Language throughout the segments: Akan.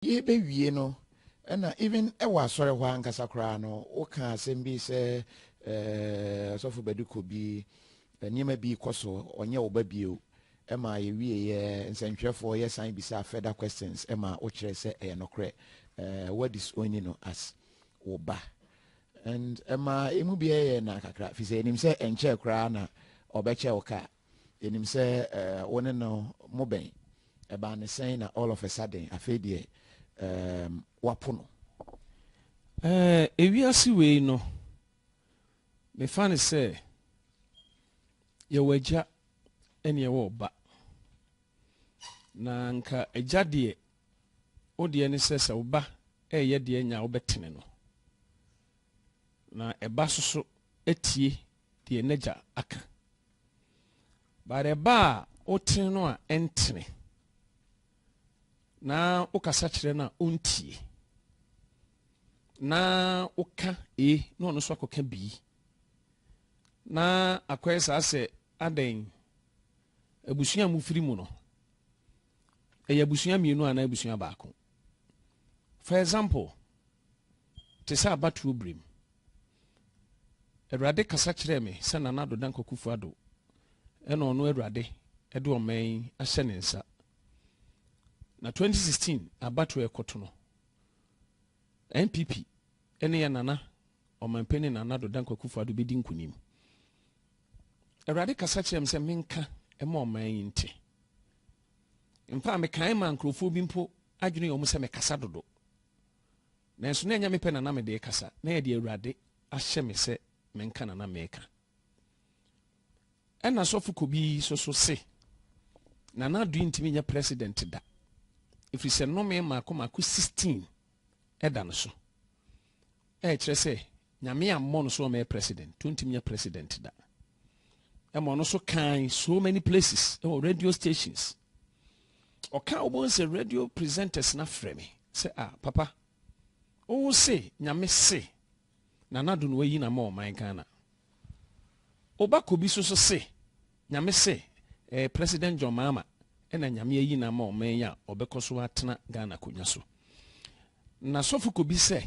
Yɛrebewie no, ɛna even wɔ asɔre hɔ ankasa koraa no, woka asɛm bi sɛ ɛɛ ɔsɔfo Badu kɔ bi, nneɛma bi kɔ so, ɔnyɛ wo ba bio. Ɛma yɛwieɛ, nsɛntwerɛfoɔ yɛsan bisaa further questions ma wokyerɛ sɛ ɛyɛ nokorɛ. Ɛɛ woadisowni no as wo ba. And ɛma emu bi yɛɛ yɛn nã kakra, firi sɛ yɛnim sɛ ɛnkyɛɛ koraa na ɔbɛkyɛ wo kaa. yɛnim sɛ wo ne no mo bɛn ɛbaa ne sɛn na all of a sudden afei deɛ um, wapo no uh, ewiase wei no mefa ne sɛ yɛwɔ agya ɛne ɛwɔ ɔba na nka agya deɛ wo deɛ ne sɛ sɛ woba ɛyɛ deɛ nya wobɛtene no na ɛba soso atie deɛ n'agya aka But ɛba a wotene no a ɛntene na wokasa kyerɛ no a ɔntie na woka e na ɔno nso akɔka bii na akɔyɛ saa sɛ adɛn abusua a mofiri mu no ɛyɛ abusua mmienu anaa abusua baako for example Te sɛ abatoɔ berɛ mu. Awurade kasa kyerɛɛ me sɛ Nana Addo Dankwa Kufuor-Addo na ɔno Awurade de ɔman yi ahyɛ ne nsa. Na 2016 abatoɔ ɛkɔto no, NPP ne yɛ Nana Ɔmanpanin Nana Addo Dankwa Kufuor-Addo bɛdi nkunim. Awurade kasa kyerɛɛ me sɛ menka ɛma ɔman yi nte. Mfa mekae ma nkurɔfoɔ bi mpo adwene yɛ wɔn sɛ mekasa dodo. Nanso na ɛnyɛ me pɛ na na mede rekasa, na ɛyɛ deɛ Awurade ahyɛ me sɛ menka na na mereka. Ɛna sɔfo Kobi so so se, Nana Addo ntumi nyɛ president da, ɛfiri sɛ nnome mmaako mmaako 16 ɛda no so. Ɛkyerɛ sɛ Nyame ammɔ no sɛ ɔmmɛyɛ president, nti ontumi nyɛ president da. Ɛma ɔno nso kan so many places, ɛwɔ radio stations. Ɔka wobɛhu sɛ radio presenters na frɛ me sɛ ah papa, wo se Nyame se na nado no wayi na ma ɔman Ghana. Oba Kobi so so se Nyame se eh, President John Mahama ɛna Nyame ayi na ma ɔman yi a ɔbɛkɔ so atena Ghana konya so. Na sɔfo kobi sɛ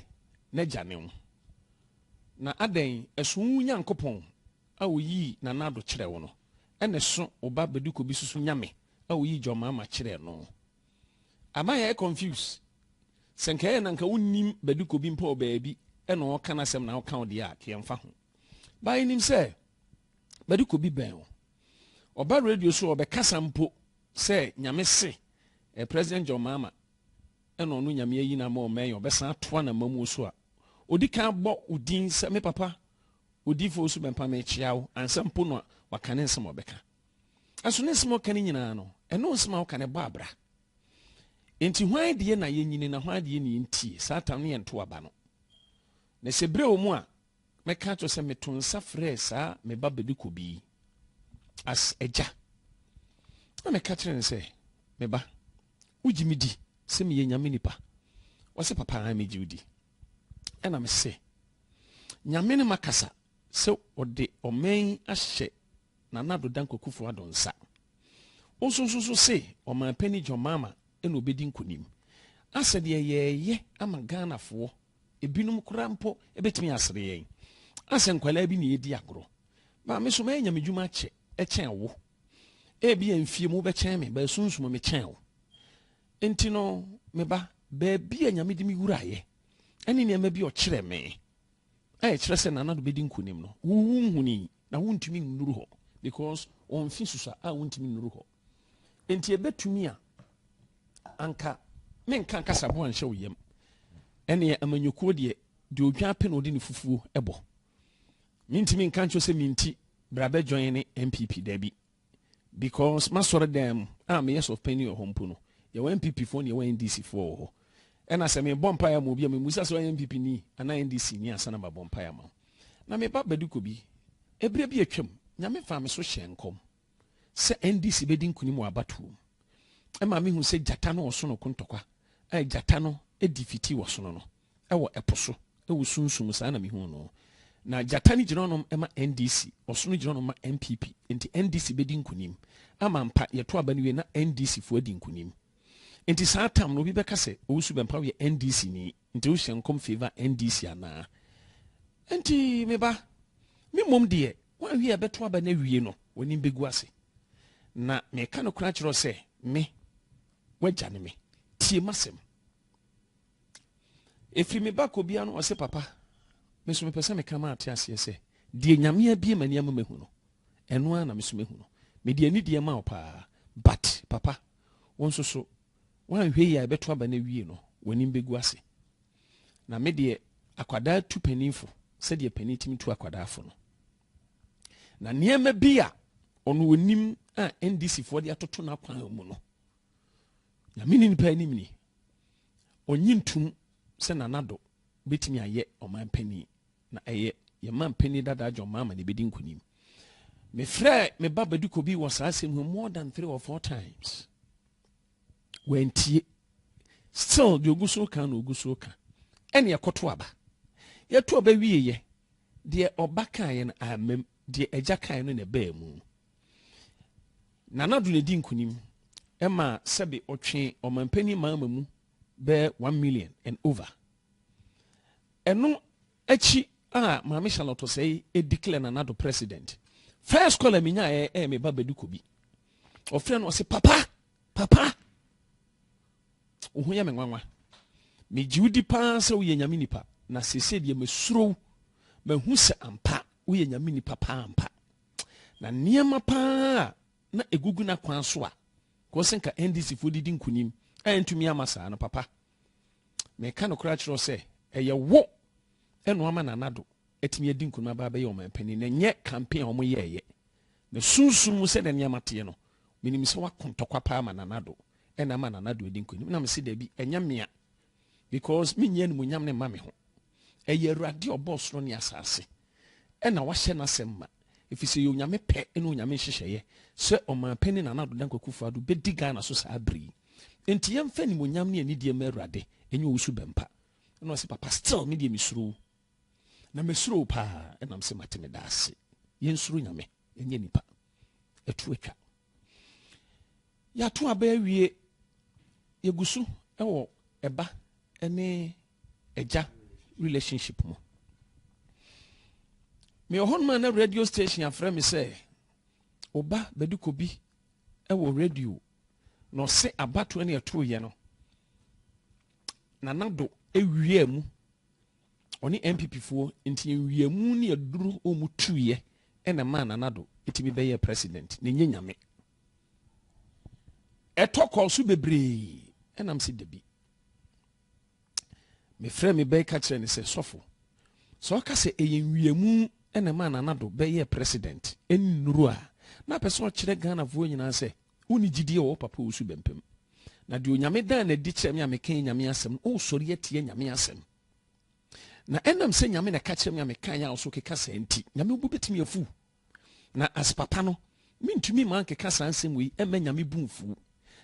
n'agya ne wo, na adɛn, ɛso wo Nyankopɔn a oyii nanado kyerɛɛ wo no, ɛna ɛso wo ba bɛde kobi susu Nyame a oyii Gyɔmama kyerɛɛ no? Ama yɛayɛ confuse, sɛ nka ɛyɛ na nka wo nnim bɛde kobi mpo wɔ baabi ɛna ɔɔka n'asɛm na wo ka wo deɛ a, ka yɛmfa ho. Ba yɛ nim sɛ bɛde kobi bɛn wo, ɔba radio so ɔbɛ kasa mpo sɛ Nyame se, eh President Gyɔmama, na ɔno Nyame ayi no ama ɔman yi, ɔbɛsan atoa n'amamuo so a, ɔdi kan abɔ wo din sɛ, me papa Odiyifo Owusu Bɛmpa merekyea wo, ansa mpo na waka ne nsɛm a ɔbɛka. Nanso ne nsɛm a ɔka no nyinaa no, ɛno nsɛm a woka no ɛbɔ abira. Enti hwan deɛ na yɛnyini na hwan deɛ na yɛntie? Saa tam no yɛ ntoa ba no. Na sɛ berɛ wɔ mu a, Mɛka ato sɛ meto nsa frɛɛ saa me ba Bebikobi yi as agya, na meka kyerɛ no sɛ, me ba, wogye me di sɛ meyɛ Nyame nipa? Ɔse, papa, ae megye wo di. Ɛna mese, Nyame ne makasa sɛ ɔde ɔman yi ahyɛ Nana Ado Dankwa Kufuor Ado nsa. Wo nso nso so se ɔmanpani John Mahama ɛna obedi nkunim. Asɛ deɛ yɛɛyɛ ama Ghanafoɔ Ebinom koraa mpo betumi asere yɛn asɛ nkwadaa bi na yɛredi agorɔ. Maame, so mayɛ nyamedwuma akyɛ kyɛn wo? Ebia mfie mu wobɛkyɛn me, baa sunsum mekyɛn wo. Enti no, me ba, baabi a Nyame de me wuraeɛ ne nneɛma bi ɔkyerɛ me a ɛkyerɛ sɛ nana do bɛdi nkonim no, wonhuni na wontumi nnuru hɔ because wɔn mfe susua a wontumi nnuru hɔ. Enti ɛbɛtumi a anka menka kasaboa nhyɛ wo yam. Ɛneɛ amanyɔkuo deɛ, deɛ odwan pɛ na ɔde ne fufuo ɛbɔ. Mentumi nka nkyɛ sɛ menti bra bɛdwan ne NPP daabi. Because masɔre dan mu a meyɛ sɔfpani wɔ hɔ mpo no, yɛwɔ NPP foɔ ne yɛwɔ NDC foɔ wɔ hɔ. Ɛna sɛ mebɔ mpaeɛ ma obi a memusa sɛ ɔyɛ NPP ni anaa NDC ni ansa na mabɔ mpaeɛ ma wo. Na meba Badiko bi, ɛberɛ bi atwam, Nyame faa me so hyɛɛ nkɔm. sɛ NDC bɛdi nkonim wɔ abatoɔ mu. Ɛma mehu sɛ gyata no ɔsono ko ntɔkwa a gyata no di fiti wɔ sono no wɔ ɛpo so wɔ sunsum saa na mehu no. Na gyata no gyina ɔnom ma NDC, ɔsono gyina ɔnom ma NPP. Nti NDC bɛdi nkonim. Ama mpa yɛto aba no wie na NDC foɔ adi nkonim. Nti saa tam no obi bɛka sɛ Owusu Bɛmpaw yɛ NDC ni. Nti wo hyɛ nkɔm favour NDC anaa? Nti me ba, me mmom deɛ woanhwɛ a ɛbɛto aba no awie no w'anim bɛgu ase. Na meka nokorɛ akyerɛ wo sɛ me, w'agya ne me. Tie m'asɛm. Ɛfiri me ba kɔ biara no ɔse papa, me nso mepɛ sɛ meka ma ate aseɛ sɛ deɛ Nyame abie m'ani ama mahu no, ɛno ara na me nso mahu no. Mede anidie ma wo paa but papa, wo nso so Woanhwɛ yie a ɛbɛto aba no awie no w'anim bɛgu ase. Na me deɛ akwadaa tu panin fo sɛdeɛ panin tumi tu akwadaa fo no. Na nneɛma bi a ɔno onim a NDC foɔ de atoto n'akwan mu no nyame ne nipa anim ni ɔnye ntum sɛ nanado bɛtumi ayɛ ɔman panin Na ɛyɛ yɛn manpanin dadaa John Mahama na ebedi nkunim. Mefrɛɛ me ba Badiko bi wɔ saa asɛm ho more than three or four times. Wantie. Still deɛ ogu so ka na ogu so ka. Ɛne ɛkɔto aba. Yɛto aba wieɛ. Deɛ ɔba kaeɛ no amam. Deɛ agya kaeɛ no na ɛbaa mu. Nanado na edi nkunim. Ɛma sɛbe ɔtwe ɔmanpanin Mahama mu bɛɛ one million and over. Ɛno akyi a Maame Charlotte Osei declare na Nado president. First call a menya ɛ ɛ me ba Badu Kobi. Ɔfrɛ no ɔse papa, papa. Wo ho yɛ me nwanwa. Me gye wodi paa sɛ woyɛ nyame nipa na sese deɛ mesuro wo. Mahu sɛ ampa woyɛ nyame nipa paa ampa. Na nneɛma paa na egugu na kwan so a kɔse nka NDC foɔ didi nkunim a ɛntumi ama saa no papa. meka nokorɛ akyerɛ wo sɛ ɛyɛ wo ɛna ama Nana Addo atumi adi nkunim aba abɛyɛ ɔmanpanin na ɛnyɛ campaign a wɔyɛɛyɛ na sunsum mu sɛdeɛ nneɛma teɛ no menim sɛ woako ntɔkwa paa ma Nana Addo ɛna ama Nana Addo adi nkunim na mese daabi ɛnyɛ mea because menyɛ animuonyam ne mma me ho ɛyɛ awurade ɔbɔɔ soro ne asase na wahyɛ n'asɛm ma, efisɛ ɛyɛ Onyame pɛ ne Onyame nhyehyɛeɛ sɛ Ɔmanpanin Nana Addo Dankwa Akufo-Addo bɛdi Ghana so saa bere yi. Enti yɛmfa animuonyam ne anidie mma Awurade, ɛnyɛ Owusu Bɛmpa. Ɛna ɔse, Papa still me deɛ mesuro wo. Na masuro wo paa ɛnam sɛ mate me da ase. Yɛnsuro Nyame, ɛnyɛ nipa. Ɛto atwa. Yɛato aba awie. Yɛgu so wɔ ɛba ne agya relationship mu mewɔ hɔ noma na radio station afrɛ me sɛ oba bɛde kɔbi wɔ radio na ɔse abatoɔ ne ɛtoyɛ no nana do ɛwia mu ɔne npp foɔ nti ɛwia mu ne ɛduru ɔmu tuiɛ ɛna maa nana do ɛtumi bɛyɛ president na ɛnyɛ nyame ɛtɔ kɔɔ so bebree ɛnam sɛ dabi mefrɛɛ me bɛn ka kyerɛɛ no sɛ, Sɔfo, sɛ ɔka sɛ ɛyɛ nwiamu na ɛmaa Nana Addo bɛyɛɛ president ne nnuru a, na apɛ sɛ ɔkyerɛ Ghanafoɔ nyinaa sɛ wonni gyidie a ɔwɔ Papa Owusu Bɛmpem. Na deɛ Onyame daa no adi kyerɛ me a meka yɛ Nyame asɛm no, wosɔre atia Nyame asɛm. Na ɛnam sɛ Nyame na ɛka kyerɛ me a meka yɛ a ɔso keka saa nti, Nyame bo bɛtumi afu. Na as papa no, mentumi ma nkeka saa nsɛm wei ɛmma Nyame bo mfu.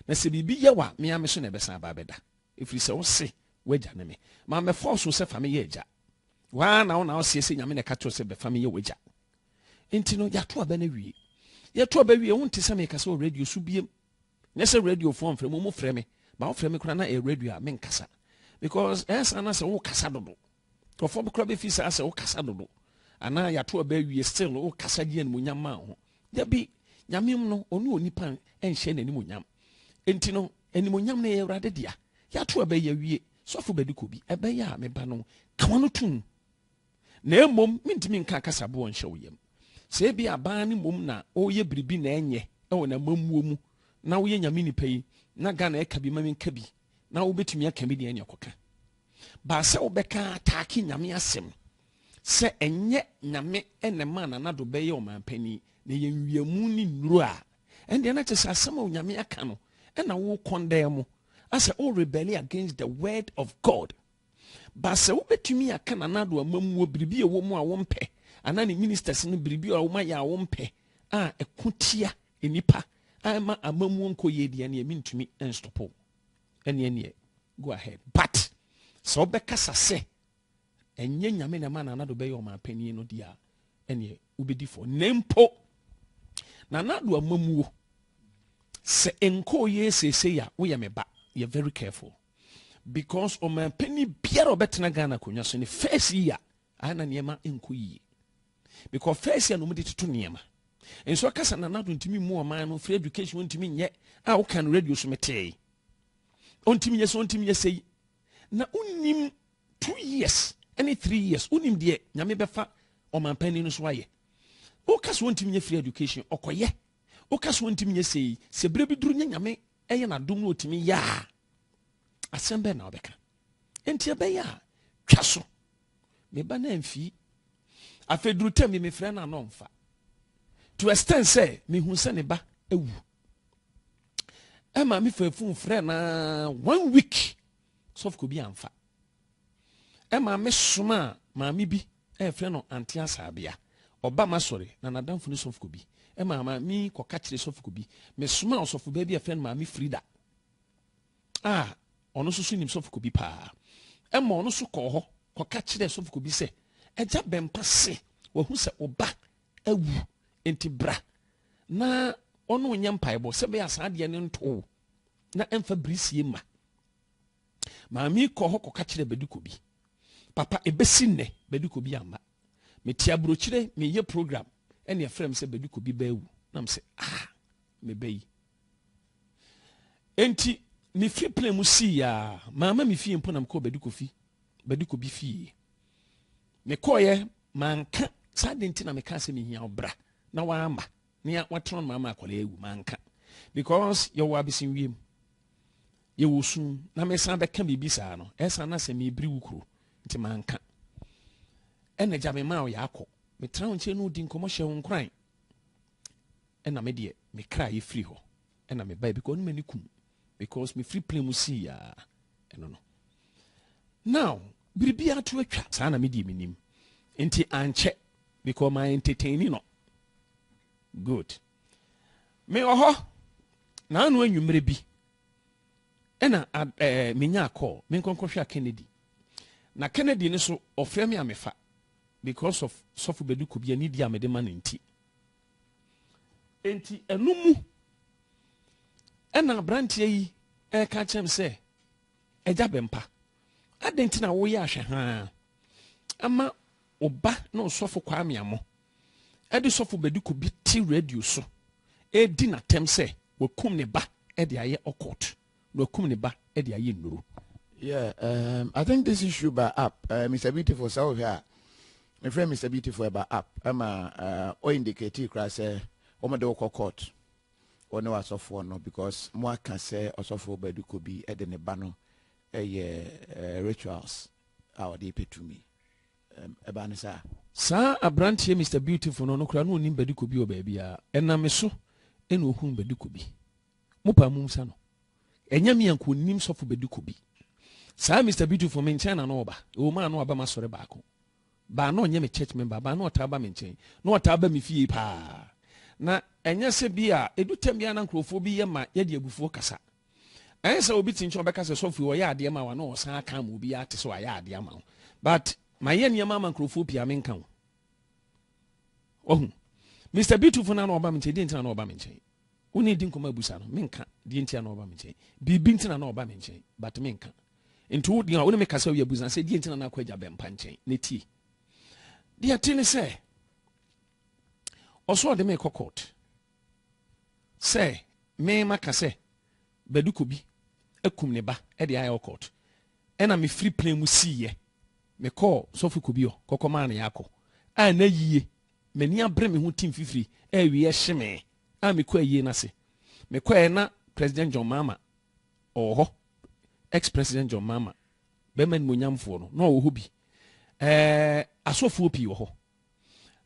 Na sɛ biribi yɛ wo a, me ara me so na ɛbɛsan aba abɛda. Ɛfiri sɛ wo se, W'agya ne me. Mammɛfa wo so sɛ fa me yɛ agya. Wo ara na wo na woseɛ sɛ Nyame na ɛka kyerɛ wo sɛ bɛfa me yɛ w'agya. Enti no, yɛato aba no awie. Yɛto aba wie, wonte sɛ mekasa wɔ radio so biem. Nyɛ sɛ radiofoɔ mfrɛ me, wɔfrɛ me. Ba wofrɛ me koraa na ɛyɛ radio a menkasa. Because ɛyɛ saa na sɛ wokasa dodo. Nkurɔfoɔ bi koraa bɛfiri saa sɛ wokasa dodo anaa yɛato aba awie still wokasa gye animonyam ma wo ho. Dabi, Nyameom no ɔne onipa nhyɛ n'animonyam. Enti no animonyam no yɛ Awurade dea. Yɛato aba yi awie, sɔfo bɛde kɔ bi, ɛbɛyɛ a me ba no ka w'ano tom na mmom mentumi nka akasaboɔ nhyɛ wo yam. Sɛ ebi abaa ne mmom na ɔreyɛ biribi na ɛnyɛ ɛwɔ n'amammuo mu na woyɛ nyame nipa yi na Ghana ɛka bi ma menka bi na wobɛtumi aka bi deɛ ɛne ɔkɔka baa sɛ wobɛka ataake nyame asɛm sɛ ɛnyɛ nyame ɛna ma nanado bɛyɛ ɔmanpani na yɛ nwiamu ne nnuro a ɛndeɛ no kyɛ sɛ asɛm a onyame aka no ɛna wo kɔndɛɛ mu asɛ o rebelli against the word of god baa sɛ wobɛtumi aka nanado amammuo biribi a ɛwɔ mu a wompɛ anaa ne ministers no biribi a womayɛ a wompɛ a ɛko tia Nnipa ɛmma amamuo nkɔ yie deɛ ɛneɛ mentumi nstop wo ɛneɛ neɛ go ahead but sɛ wobɛkasa sɛ ɛnyɛ nyame na ɛma Nana Addo bɛyɛ ɔmanpanin no deɛ a ɛneɛ wobɛdi fɔ na mpo Nana Addo amamuo sɛ nkɔɔ yie seesei a woyɛ me ba yɛ very careful because ɔmanpanin biara ɔbɛtena Ghana akonnwa so ne first year Ah na nneɛma nkɔ yie. Mekɔ first year na wɔn de toto nneɛma. Nso akasa na nado ntumi mu ɔman no free education ntumi nyɛ a woka no radio so metee. Ɔntumi nyɛ sɛ ɔntumi nyɛ sɛ yi. Na wonim two years ɛne three years wonim deɛ nyame bɛfa ɔman panyin no so ayɛ. Woka so ɔntumi nyɛ free education ɔkɔyɛ. Woka so ɔntumi nyɛ sɛ yi sɛ bere bi duru nyɛ nyame ɛyɛ n'adom na ɔtumi yɛ a asɛm bɛn na wobɛka enti ɛbɛyɛ a twa so meba no amfii afei duru tam bi mefrɛ no ana ɔmfa to extend sɛ mehu sɛ ne ba awu ɛma mefa fon frɛ na one week sɔfo bi amfa ɛma mesoma a maame bi ɛfrɛ no ante asaabea ɔba ma sɔre na nadamfo no sɔfo bi ɛma maame kɔka kyerɛ sɔfo bi mesoma ɔsɔfo baabi ɛfrɛ no maame frida a ɔno nso so nim sɔfokubi paa. Ɛma ɔno nso kɔɔ hɔ kɔka kyerɛɛ sɔfokubi sɛ, Agya bɛmpa se wahu sɛ wo ba awu, enti bra na ɔne wo nyɛ mpaebɔ sɛ bɛyɛ saa adeɛ no nto wo na ɛmfa birisie mma. Maame kɔɔ hɔ kɔka kyerɛɛ Badikobi. Papa, ɛbɛsi nnɛ Badikobi amma. Mete aburokyire, meyɛ program, ɛne ɛfrɛ me sɛ Badikobi baawu. Na me sɛ, ah, me ba yi, Enti mifi plane mu sii a, mamma me fie mpo na mekɔɔ Bedi Kofi, Bedi Kobi fie. Mekɔeɛ manka saa de nti na mekaa sɛ mehia wo bra na wamma na watena no ama akwadaa awu manka because yɛwɔ abesewiem yɛwɔ sum na mesan bɛka biribi saa no ɛsan na sɛ mebiri wo kuro nti manka ɛna gya me maa ɔyɛ akɔ metra wo nkyɛn no di nkɔmmɔ hyɛ wo nkoran Ɛna me deɛ me kra yɛ firi hɔ ɛna me baɛ because ɔne m'ani kum because me firi plane mu sii yaa ɛno no now biribi ato atwa saa na me deɛ me nim nti ankyɛ because my entertaining no good me wɔ hɔ na ano anwummerɛ bi ɛna ɛɛ eh, menya call me nkɔnkɔhwɛ a Kennedy na Kennedy no so ɔfrɛ me a mefa because of sɔfo bɛdu kɔ bi anidi a mede ma no nti Enti ɛno mu ɛna aberanteɛ yi ɛka kyerɛ me sɛ agya bɛmpa adɛn nti na woyɛ ahwɛhaa ama ɔba na ɔsɔfo kwaa meamɔ ɛde sɔfo bɛdi ko bi te radio so ɛredi n'atɛm sɛ wakum ne ba ɛde ayɛ ɔkɔt na wakum ne ba de ayɛ nnuru. Yeah, um, I think this issue by app, uh, Mr. Beautiful, sɛ wohwɛ a, mefrɛ Mr. Beautiful ɛba app, ɛma uh, ɔindicate koraa sɛ wɔmde wokɔ court wɔne w'asɔfoɔ no because mo aka sɛ ɔsɔfoɔ Badiku bi de ne ba no ɛyɛ uh, rituals a ɔde pɛ tumi ɛba um, ne saa saa aberanteɛ Mr. Beautiful no no koraa na ɔnim Badiku bi wɔ baabi a ɛname so ɛna ɔhunu Badiku bi Mo paa mum sa no. Ɛnyɛ me a nka onim sɔfo bedi kɔ bi. Saa Mister Beautiful me nkyɛn na na ɔba. Ɛwɔ mu a na waba m'asɔre baako. But na ɔnyɛ me church member but na ɔtaa ba me nkyɛn. Na ɔtaa ba me fie paa. Na ɛnyɛ sɛ bi a edu tɛm bi a na nkurɔfoɔ bi yɛ ma yɛde abufuo kasa. Ɛnyɛ sɛ obi te nkyɛn ɔbɛka sɛ sɔfo yi ɔyɛ adeɛ ma wo a na ɔsan aka ama obi ate sɛ wayɛ adeɛ ama wo. But mayɛ nneɛma ama nkurɔfoɔ pii a menka ho. Wahu? Mister Beautiful na na ɔba me nkyɛn. Deɛ nti na na ɔba me nkyɛn. Wo ne di nkɔmɔ abusa no, menka deɛ ntia na ɔba me nkyɛn. Biribi nti na na ɔba me nkyɛn, but menka. Nti wo deɛ wo ne me kasa wie abusa sɛ deɛ nti na na akɔ agya bɛmpa nkyɛn na tie. Deɛ te ne sɛ ɔsɔ ɔde me kɔ court sɛ me maka sɛ Baduko bi akum ne ba de ayɛ court ɛna mefiri plane mu siiɛ mekɔɔ sɔfo Kobio kɔkɔmaa ne yɛakɔ a na yie M'ani abere me ho ti mfifiri a awieɛ hye me a mekɔ ayie no ase. Mekɔeɛ na President John Mahama ɔwɔ hɔ, ex President John Mahama, bɛrima animuonyamfoɔ no, na ɔwɔ hɔ bi. Ɛɛ, asɔfoɔ pii wɔ hɔ.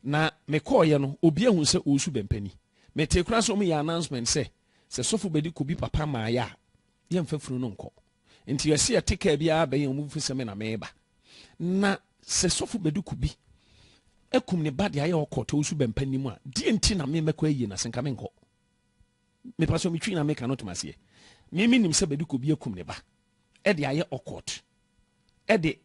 Na mekɔeɛ no, obi ahu sɛ ɔresu bɛmpa ni. Metee koraa sɛ wɔyɛ announcement sɛ, sɛ sɔfo bɛdi kɔ bi papa mmaeɛ a, yɛmfa funu no nkɔ. Nti yɛse yɛte kaa bi ara bɛn a, wɔbɛhu sɛ me na mereba. Na sɛ sɔfo bɛduku bi akum ne ba de ayɛ ɔkɔt ɔwusu bɛmpa nim a deɛ nti na me mɛkɔ ayie no ase nka menkɔ mepa sɛ metwi na meka no tom aseɛ me menim sɛ bɛduku bi akum ne ba ɛde ayɛ ɔkɔt ɛde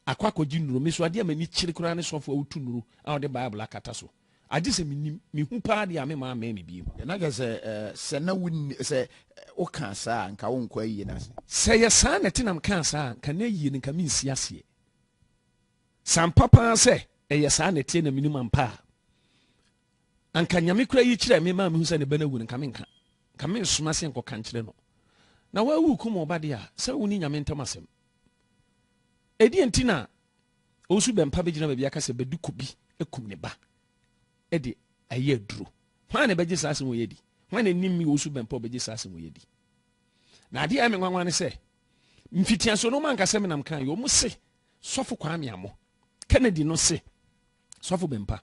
akɔ akɔgye nnuro me so adeɛ a m'ani kyere koraa ne sɔfo a wotu nnuro a wɔde bible akata so Agye sɛ menim, mehu paa deɛ a me maa mmɛɛ me biom. Na kyerɛ sɛ sɛ na wonni, sɛ wokaa saa a nka wonkɔ ayie no ase. Sɛ ɛyɛ saa na ɛte na mekaa saa a nka n'ayie no nka mensi aseɛ. Sɛ ampa paa sɛ ɛyɛ saa na ɛteɛ na menim ampa a, anka Nyame koraa yi kyerɛɛ me maa mehu sɛ ne ba no awu no nka menka, nka mensoma aseɛ nkɔka nkyerɛ no. Na woawu rekum wo ba deɛ a, sɛ wo ne Nyame ntam asɛm. Ɛdeɛn nti na Owusu bɛmpa bɛgyina baabi aka sɛ Bɛduku bi akum ne ba de ayɛ aduro. Hwan na ɛbɛgye saa asɛm wei adi? Hwan na ɛnim me Owusu bɛmpa ɔbɛgye saa asɛm wei adi? Na adeɛ a ɛme nwanwa ne sɛ mfitiaso no manka sɛ menam kan yɛ ɔmo se sɔfo Kwame Amo Kennedy no se sɔfo bɛmpa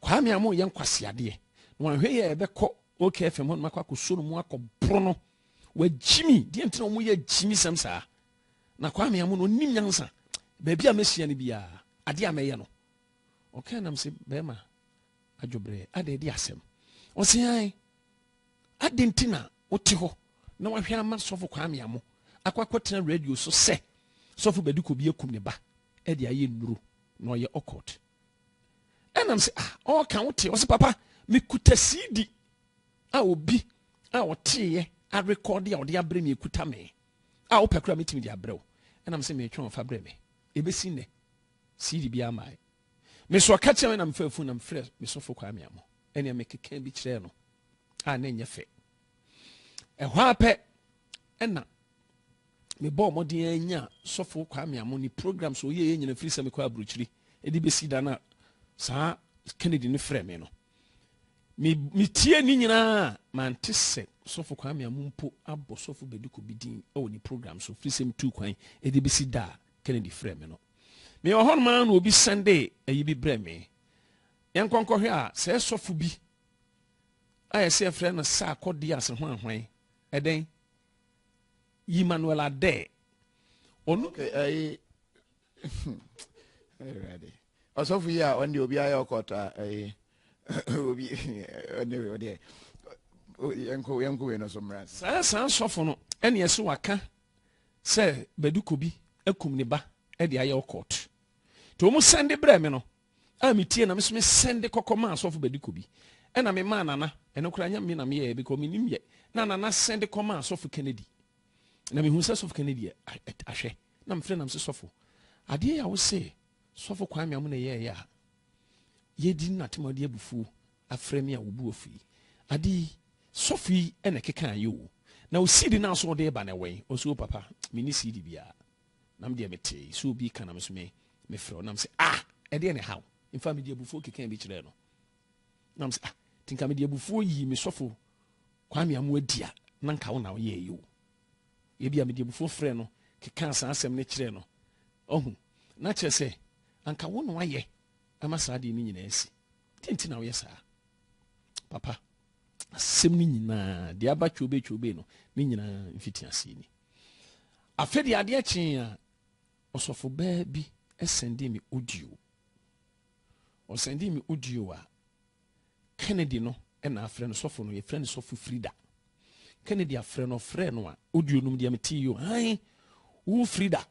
Kwame Amo yɛ nkwaseadeɛ na wanhwɛ yɛ ɛbɛkɔ OKFM hɔ no makɔ akɔsuo no mu akɔboro no wagyimi deɛ nti na ɔmo yɛ agyimisɛm saa Na Kwame Amu no ɔnim nyansa. Baabi a mɛhyia no biara, adeɛ a mɛyɛ no, ɔkaa nam sɛ bɛrima adwobrɛ ada ɛde asɛm. Ɔse ae, adɛn nti na wote hɔ na wahwɛ ama sɔfo Kwame Amu akɔ akɔtena radio so sɛ sɔfo bɛdi kɔ bi akum ne ba ɛde ayɛ nnuro na ɔyɛ ɔkɔt. Ɛnam sɛ ah, ɔka wote ɔse papa mekuta CD a obi a ɔteeɛ arekɔde a ɔde abrɛ me ekuta me. a wopɛ koraa metumi de abrɛ wo. Ɛna me se metwe wɔn fa brɛ me. Ebesi nnɛ, CD bi amae. Me nso ɔka kyerɛ me na mefa fun na mefrɛ me sɔfo Kwame Amo. Ɛnea mekeka bi kyerɛɛ no a na ɛnyɛ fɛ. Ɛhɔ ara pɛ ɛna mebɔɔ mmɔden anya sɔfo Kwame Amo ne program so ɔyɛ yɛ nyina firi sɛ mekɔ aburokyiri de bɛsi da no a saa Kennedy no frɛ me no. me metie ne nyinaa mante sɛ sɔfo Kwame Amu mpo abɔ sɔfo Bediako bi din wɔ ne program so firi sɛm tu kwan ɛde bɛsi da a Kennedy frɛ me no mewɔ hɔ noma na obi sɛnde ayi bi brɛ me yɛnkɔnkɔhwɛ a sɛ sɔfo bi a yɛsɛ yɛfrɛ no sɛ akɔde ase ho ahwan ɛdɛn yi Manuel Adɛ ɔno ɛyɛ Ɔsɔfo yi a ɔno deɛ obiara yɛ ɔkɔɔtɔ a ɛyɛ obi ɔne wei ɔdeɛ yɛnkɔ yɛnkɔ wei no so mmra. Saa saa sɔfo no ɛne ɛsɛ waka sɛ bɛde kobi akum ne ba ɛde ayɛ ɔkɔɔtɔ. Te wɔn sɛnde brɛ me no a metie na meso me sɛnde kɔkɔ maa sɔfo bɛde kobi ɛna me maa nana ɛno koraa nyɛ me na meyɛ ɛbi kɔ menim yɛ na nana sɛnde kɔ maa sɔfo Kennedy na mehu sɛ sɔfo Kennedy ahwɛ na mefrɛ nam sɛ sɔfo adeɛ yɛ a wo se Sɔfo Kwame Amu na yɛɛyɛ a yɛdi no natem ɔde abufuo afrɛ me a ɔbu afu yi. Ade yi sɔfo yi na ɛkekaa yɛ o. Na o CD no a so ɔde reba no ɛwɔ yi? Ɔse o papa menni CD biara. Na me deɛ metee sɛ obi reka na me nso mefrɛ o. Na mese ah ɛdeɛn na ɛha wo? In fact mede abufuo kekaa bi kyerɛɛ no. Na mese ah nti nka mede abufuo yii me sɔfo Kwame Amu adi a na nka wo na woyɛɛyɛ o. Ebia mede abufuo frɛɛ no kekaa saa asɛm no kyerɛɛ no. Wahu? Na kyerɛ sɛ, anka wo na woayɛ ama saa adeɛ no nyinaa asi. Deɛ nti na woyɛ saa? Papa, asɛm no nyinaa, deɛ aba kyoobee kyoobee no, ne nyinaa mfitiaseɛ ni. Afei deɛ adeɛ kyee a, ɔsɔfo baa bi sɛndee me audio. Ɔsɛndee me audio a, Kennedy no na afrɛ no sɔfo no, yɛfrɛ no sɔfo Frida. Kennedy afrɛ no, ɔfrɛɛ no a, audio nom deɛ metee yi o, hann, wo Frida.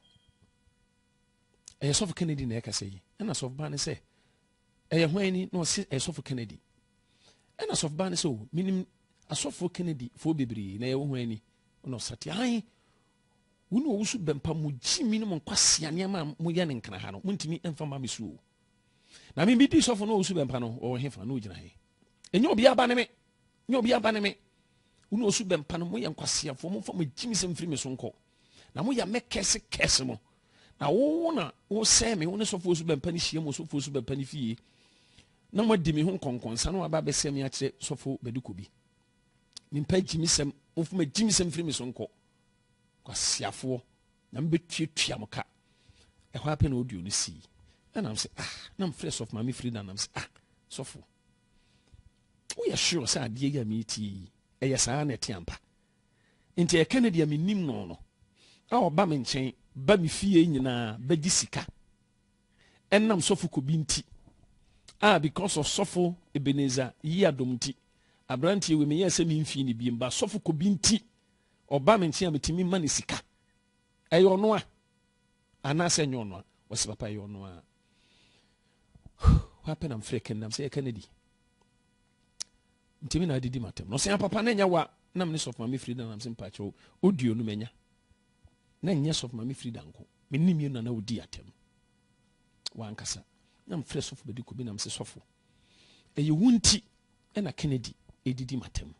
Ɛyɛ sɔfo Kennedy na ɛkasa yi. Ɛna sɔfo baa no sɛ, ɛyɛ hwan ni? Na ɔse, ɛyɛ sɔfo Kennedy. Ɛna sɔfo baa no sɛ, o, menim asɔfo Kennedy foɔ bebree, na ɛyɛ wo hwan ni? Ɛna ɔsate, hann, wo ne ɔwusu bɛmpa, mo gyi mi ne mo nkwasea nneɛma a moyɛ no nkena ha no, montumi mfa ma me so o. Na me medi sɔfo no ɔsu bɛmpa no ɔwɔ hefa na ɔgyina he? Ɛnyɛ obi aba ne me, nyɛ obi aba ne me. Wone ɔsu bɛmpa no moyɛ nkwaseafoɔ, momfa mo gyimi sɛ mfiri me so nkɔ. Na moyɛ me kɛse kɛse mo. Na wo na wosɛe me, wo ne sɔfo ɔsu bɛmpa no hyia mu sɔfo ɔsu bɛmpa no fie. Na moadi me ho nkɔnkɔnsa na waba abɛsɛ me akyerɛ sɔfo bɛdekɔ bi. Mempa gyimisɛm, momfa mo gyimisɛm mfiri me so nkɔ. Kwasiafoɔ. Na mebɛtuatua mo ka. Ɛhɔ ara pɛ na audio no sii. Ɛna m sɛ, ah, na mfrɛ sɔfo maame Frida nam sɛ, ah, sɔfo, woyɛ sure sɛ adeɛ yi a meretie yi, ɛyɛ saa na ɛte ampa? Nti ɛka no deɛ mennim no no, a ɔba me nkyɛn, ba me fie nyinaa, bɛgye sika. Ɛnam sɔfo kobi nti, a because of sɔfo Ebenezer yi adom nti, aberanteɛ wei meyɛɛ sɛ memfii ne biem, ba sɔfo kobi nti, Ɔba me nkyɛn a metumi ma no sika. Ɛyɛ ɔno a anaasɛ ɛnyɛ ɔno a? Ɔsɛ papa ɛyɛ ɔno a. Wapɛ na mfrɛ kɛn nam sɛ yɛka no di. Ntumi na adidi matam. Na ɔsɛ papa na ɛnyɛ wa nam ne sɔfo maame Frida nam sɛ mpakyɛw odi onum anya. Na nyɛ sɔfo maame Frida nko. Me nim yɛ nana odi atam. Wankasa. Na mfrɛ sɔfo bɛdi kɔ bi nam sɛ sɔfo. Ɛyɛ wo nti ɛna Kennedy edidi matam.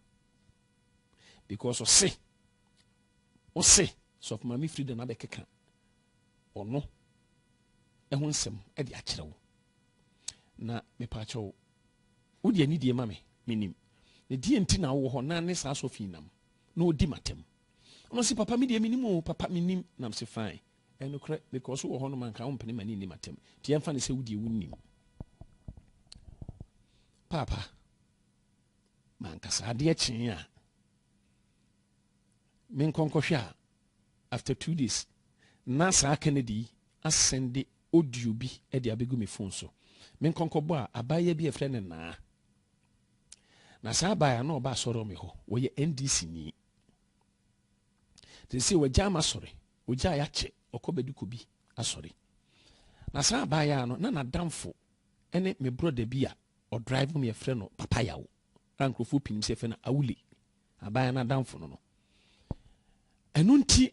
because ɔse ɔse sɔfo maame frida na abɛkeka ɔno ɛho nsɛm ɛde akyerɛ wo na mepaakyɛ wo wode ani die ma me menim na deɛ nti na wowɔ hɔ na ne saa sɔfo nam na ɔdi matam ɔno se papa me deɛ menim o papa menim nam se fine ɛnokorɛ because wowɔ hɔ no manka wo mpene ma ne nni matam nti ɛmfa ne sɛ wodeɛ wonim paapa Ma ankasa adeɛ kyee a me nkɔ nkɔhwɛ a after two days na saa kennedy yi asɛnde audio bi de abɛgu me phone so me nkɔ nkɔbɔ a abaayewa bi a ɛfrɛ ne naa na saa abaayewa na ɔba asɔre me hɔ wɔyɛ ndc ni sɛ wɔagya ama sɔre wɔgya yɛ akyɛ ɔkɔ bɛdi kɔ bi asɔre na saa abaayewa no na n'adamfo ne me brɔda bi a Ɔdrive no yɛfrɛ no Papa Yaw a nkurɔfoɔ pii nim sɛ yɛfrɛ no Awule, abaayewa no adamfo no no. Ɛno nti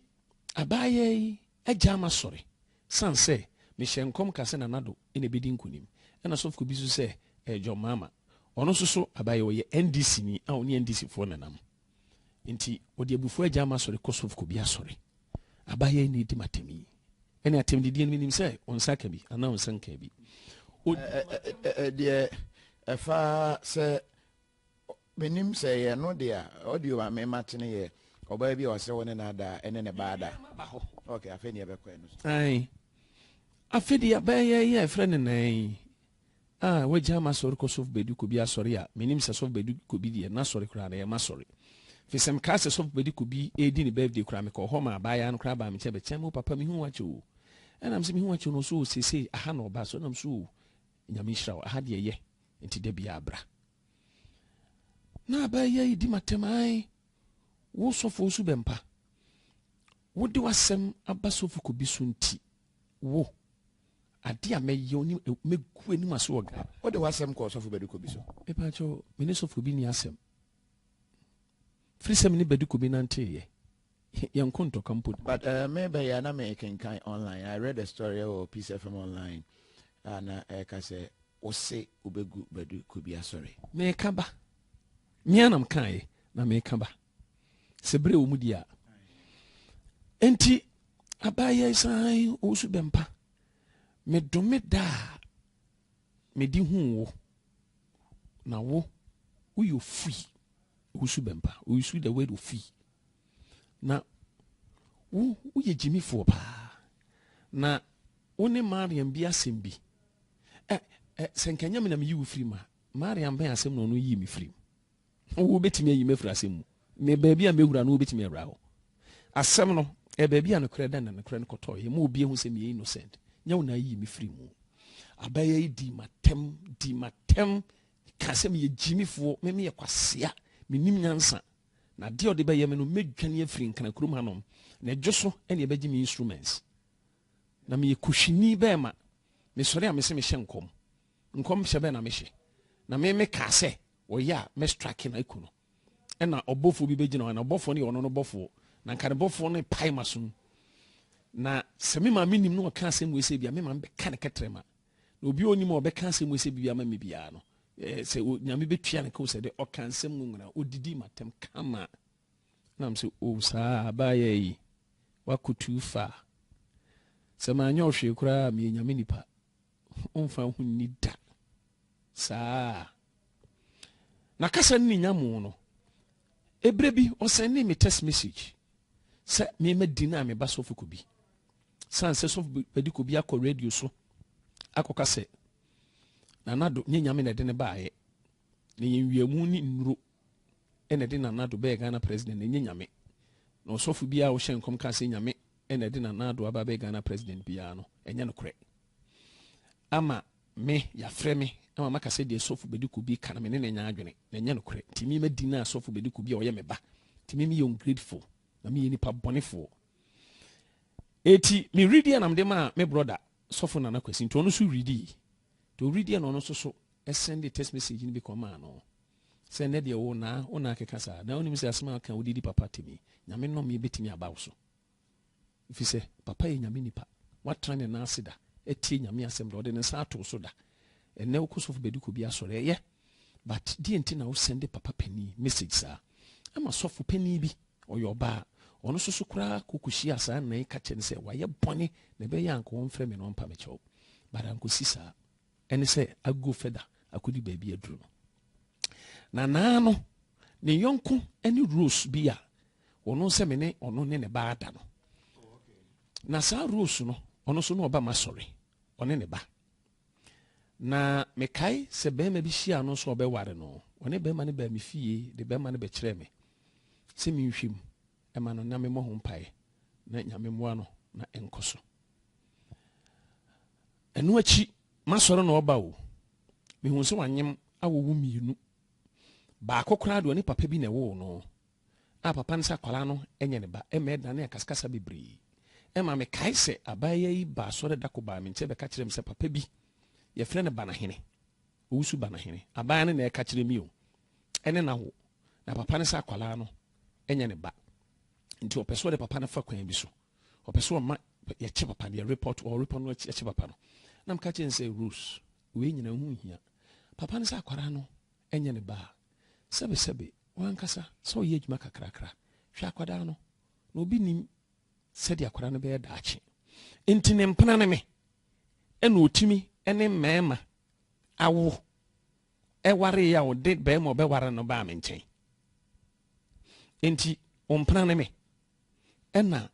abaayewa yi agyaa m'asɔre sane sɛ mehyɛ nkɔm ka sɛ Nana Addo na ɛbɛdi nkonim. Ɛna sɔfkuo bi nso sɛ ɛyɛ John Mahama. Ɔno nso so abaayewa ɔyɛ NDC-ni a ɔne NDC-foɔ nenam. Nti ɔde abufuo agya ama sɔre kɔ sɔfo kɔbi asɔre. Abayewa yi na edi m'atɛm yi. Ɛne atɛm didie no menim sɛ ɔnsa ka bi anaa ɔnsa nka bi. Deɛ ɛfa sɛ menim sɛ yɛ no deɛ a ɔde o ame ma tene yɛ ɔbaa bi a ɔsɛ wɔ ne na ada ɛne ne ba ada. Ok afei ne yɛbɛkɔ ɛno so. Afei deɛ abɛyɛ yɛ ɛfrɛ ne nan yi. Ah, wagyaa m'asɔre kɔ Sɔfo Badu Kobi asɔre a, mennim sɛ Sɔfo Badu Kobi deɛ n'asɔre koraa no ɛyɛ m'asɔre. Firi sɛ mekaa sɛ Sɔfo Badu Kobi redi ne birthday koraa mekɔɔ hɔ maa abaayaa no koraa baa me nkyɛn bɛkyɛɛ me, Oh papa mehu wo akyɛ oo. Ɛna mese mehu wo akyɛ no, ɔse oo seesei aha na ɔba, so ɛna mese oo Nyame nhyira wo, aha deɛ yɛ nti da biara bra. Na abaayaa yi di m'atɛm ae, wo sɔfo wo so bɛmpa, wode w'asɛm aba Sɔfo Kobi so nti Wo, ade a mɛyɛ wo ne mɛgu anim ase wɔ Ghana. Wode w'asɛm kɔ ɔsɔfo Badiko bi so? Mepakyɛ, me ne sɔfo bi ni asɛm. Firi sɛ me ne Badiko bi nanteeɛ. Yɛnko ntɔka mpo da. But uh, me bɛyɛ a na mekenkan online. I read a story wɔ Peace FM online a na ɛka sɛ wose wobɛgu Badiko bi asɔre. Meka ba. Mea na mekaeɛ na meka ba. sɛ bere wɔ mu di a enti abayɛ san ɔsu bɛmpa medome da a mede hu wo na wo woyɛ ofui wosu bɛmpa wosu the word ofui na wo woyɛ gyimifoɔ paa na wo ne mariam bi asɛm bi ɛ ɛ sɛ nkanyam na meyi wo firi ma mariam bɛn asɛm na ɔno yii me firi mu Wobɛtumi ayi me afiri asɛm mu, me baabi a mɛwura no wobɛtumi awura hɔ. Asɛm no, ɛyɛ baabi a nokorɛ da na nokorɛ no kɔtɔeɛ, ɛma obi ahu sɛ meyɛ innocent, nyɛ wo na ayi me firi mu. Abaya yi dii m'atɛm, dii m'atɛm, kaa sɛ meyɛ gyimifoɔ, me meyɛ kwasea, mennim nyansa, na adeɛ a ɔde bɛyɛ me no, mɛdwane afiri Nkran kurom hanom, na ɛdwo so ɛne ɛbɛgye me instruments. Na meyɛ Kushini bɛɛma, mesɔre a mese mehyɛ nkɔm. Nkɔmhyɛ bɛn na mehyɛ? Na me me kaa sɛ, Ɔyɛ a mɛ strake no aku no, ɛna ɔbɔfoɔ bi bɛgyina hɔ, ɛna ɔbɔfoɔ no yɛ ɔno no bɔfoɔ, na nka ne bɔfoɔ no pae ma som. Na sɛ me maame nim na ɔka asɛm wei sɛ bia, me maame bɛka ne kɛtrɛma. Na obi a ɔnim a ɔbɛka asɛm wei sɛ bia ma me biara no, eh, sɛ nyame bɛtua ne kao sɛ dɛ ɔka nsɛm no nwena, ɔdidi matɛm kama. Na m sɛ, o oh, saa abaayɛ yi, wakɔ too far. Sɛ manyɛ ɔhwee koraa meyɛ nyame nipa. Ɔmfa ho nni da. Saa. Na kasa no ne nyamoo no. Eberɛ bi, ɔsɛndee me text message sɛ mema din a meba sɔfo Kobi. San sɛ sɔfo Badi Kobi akɔ radio so akɔka sɛ Nana Do nyɛ Nyame na ɛde no baeɛ. Na yɛn wiamu ne nnuro. na ɛde Nana Addo bɛyɛ Ghana President ɛnyɛ Nyame. Na ɔsɔfo biara a ɔhyɛ nkɔm ka sɛ Nyame na ɛde Nana Addo aba abɛyɛ Ghana President biara no, ɛnyɛ nokorɛ. Ama me, yɛafrɛ me ama maka sɛ deɛ Sɔfo Bediako bi ka no me ne no nyɛ adwene, na ɛnyɛ nokorɛ. Nti me madi no a Sɔfo Bediako bi a ɔyɛ me ba. Nti me meyɛ ungrateful, na meyɛ nipa bɔnefoɔ. Eti me ready na mede maa me brother Sɔfo Nana Kwasi, nti ɔno nso ready. Nti ɔready na ɔno nso so send text message no bi kɔmaa no. Sɛ ɛnnɛ deɛ wo naa wo naa keka saa na wonim sɛ asem a ɔka wode di papa atem yi nyame nɔmee bɛtumi aba wo so efisɛ papa yɛ nyame nipa watena ne nan ase da atie nyame asem da ɔde ne nsa ato wo so da ɛnnɛ wokɔ sɔfo bɛdi kɔ bi asɔre ɛyɛ but deɛ nti na wo sɛnde papa panin message saa ɛma sɔfo panin bi ɔyɛ ɔbaa ɔno soso koraa kɔkɔhyia saa nnan ka kyɛ ne sɛ wayɛ bɔne na ɛbɛyɛ anka ɔmfrɛ me na ɔmpa me kyɛw but ankɔsi saa ɛne sɛ ago fɛda akɔdi baabi aduru no na naa no ne yɔnko ne rose bi a ɔno nsɛ me ne ɔno ne ne ba ada no na saa rose no ɔno nso na ɔba ma sɔre ɔne ne ba na mekae sɛ bɛrima bi hyia no nso ɔbɛware no ɔne bɛrima no baa me fie de bɛrima no bɛkyerɛ me sɛ menhwɛ mu ma no na memmɔ ho mpaeɛ na Nyame mmoa no na ɛnkɔ so. Ɛno akyi masɔre na ɔba o, mehuu sɛ wanyem awo wo mmienu. Baako koraa deɛ ɔne papa bi na ɛwoo no a papa no sɛ akwadaa no nyɛ ne ba ɛma ɛdane akaskasa bebree ɛma mekae sɛ abaayewa yi baa sɔre dako baa me nkyɛn bɛka kyerɛ me sɛ papa bi yɛfrɛ no Banahene owusu Banahene abaayewa no na ɛka kyerɛ me o ɛne na wo na papa no sɛ akwadaa no ɛnyɛ ne ba nti ɔpɛ sɛ ɔde papa no fa kwan bi so ɔpɛ sɛ ɔma yɛkye papa no yɛrepɔt ɔrepɔ no akye papa no na meka kyerɛ no sɛ rose wei nyina ho hia papa no sɛ akwara no ɛnyɛ ne ba a sɛbesɛbe wankasa sɛ ɔyɛ adwuma kakrakra hwɛ akwadaa no na obi nim sɛdeɛ akwadaa no bɛyɛ daakye nti ne mpena ne me ɛna ɔtumi ne mmarima awo waree a ɔde barima a ɔbɛware no baa me nkyɛn. Enti wo mpena ne me. Ɛna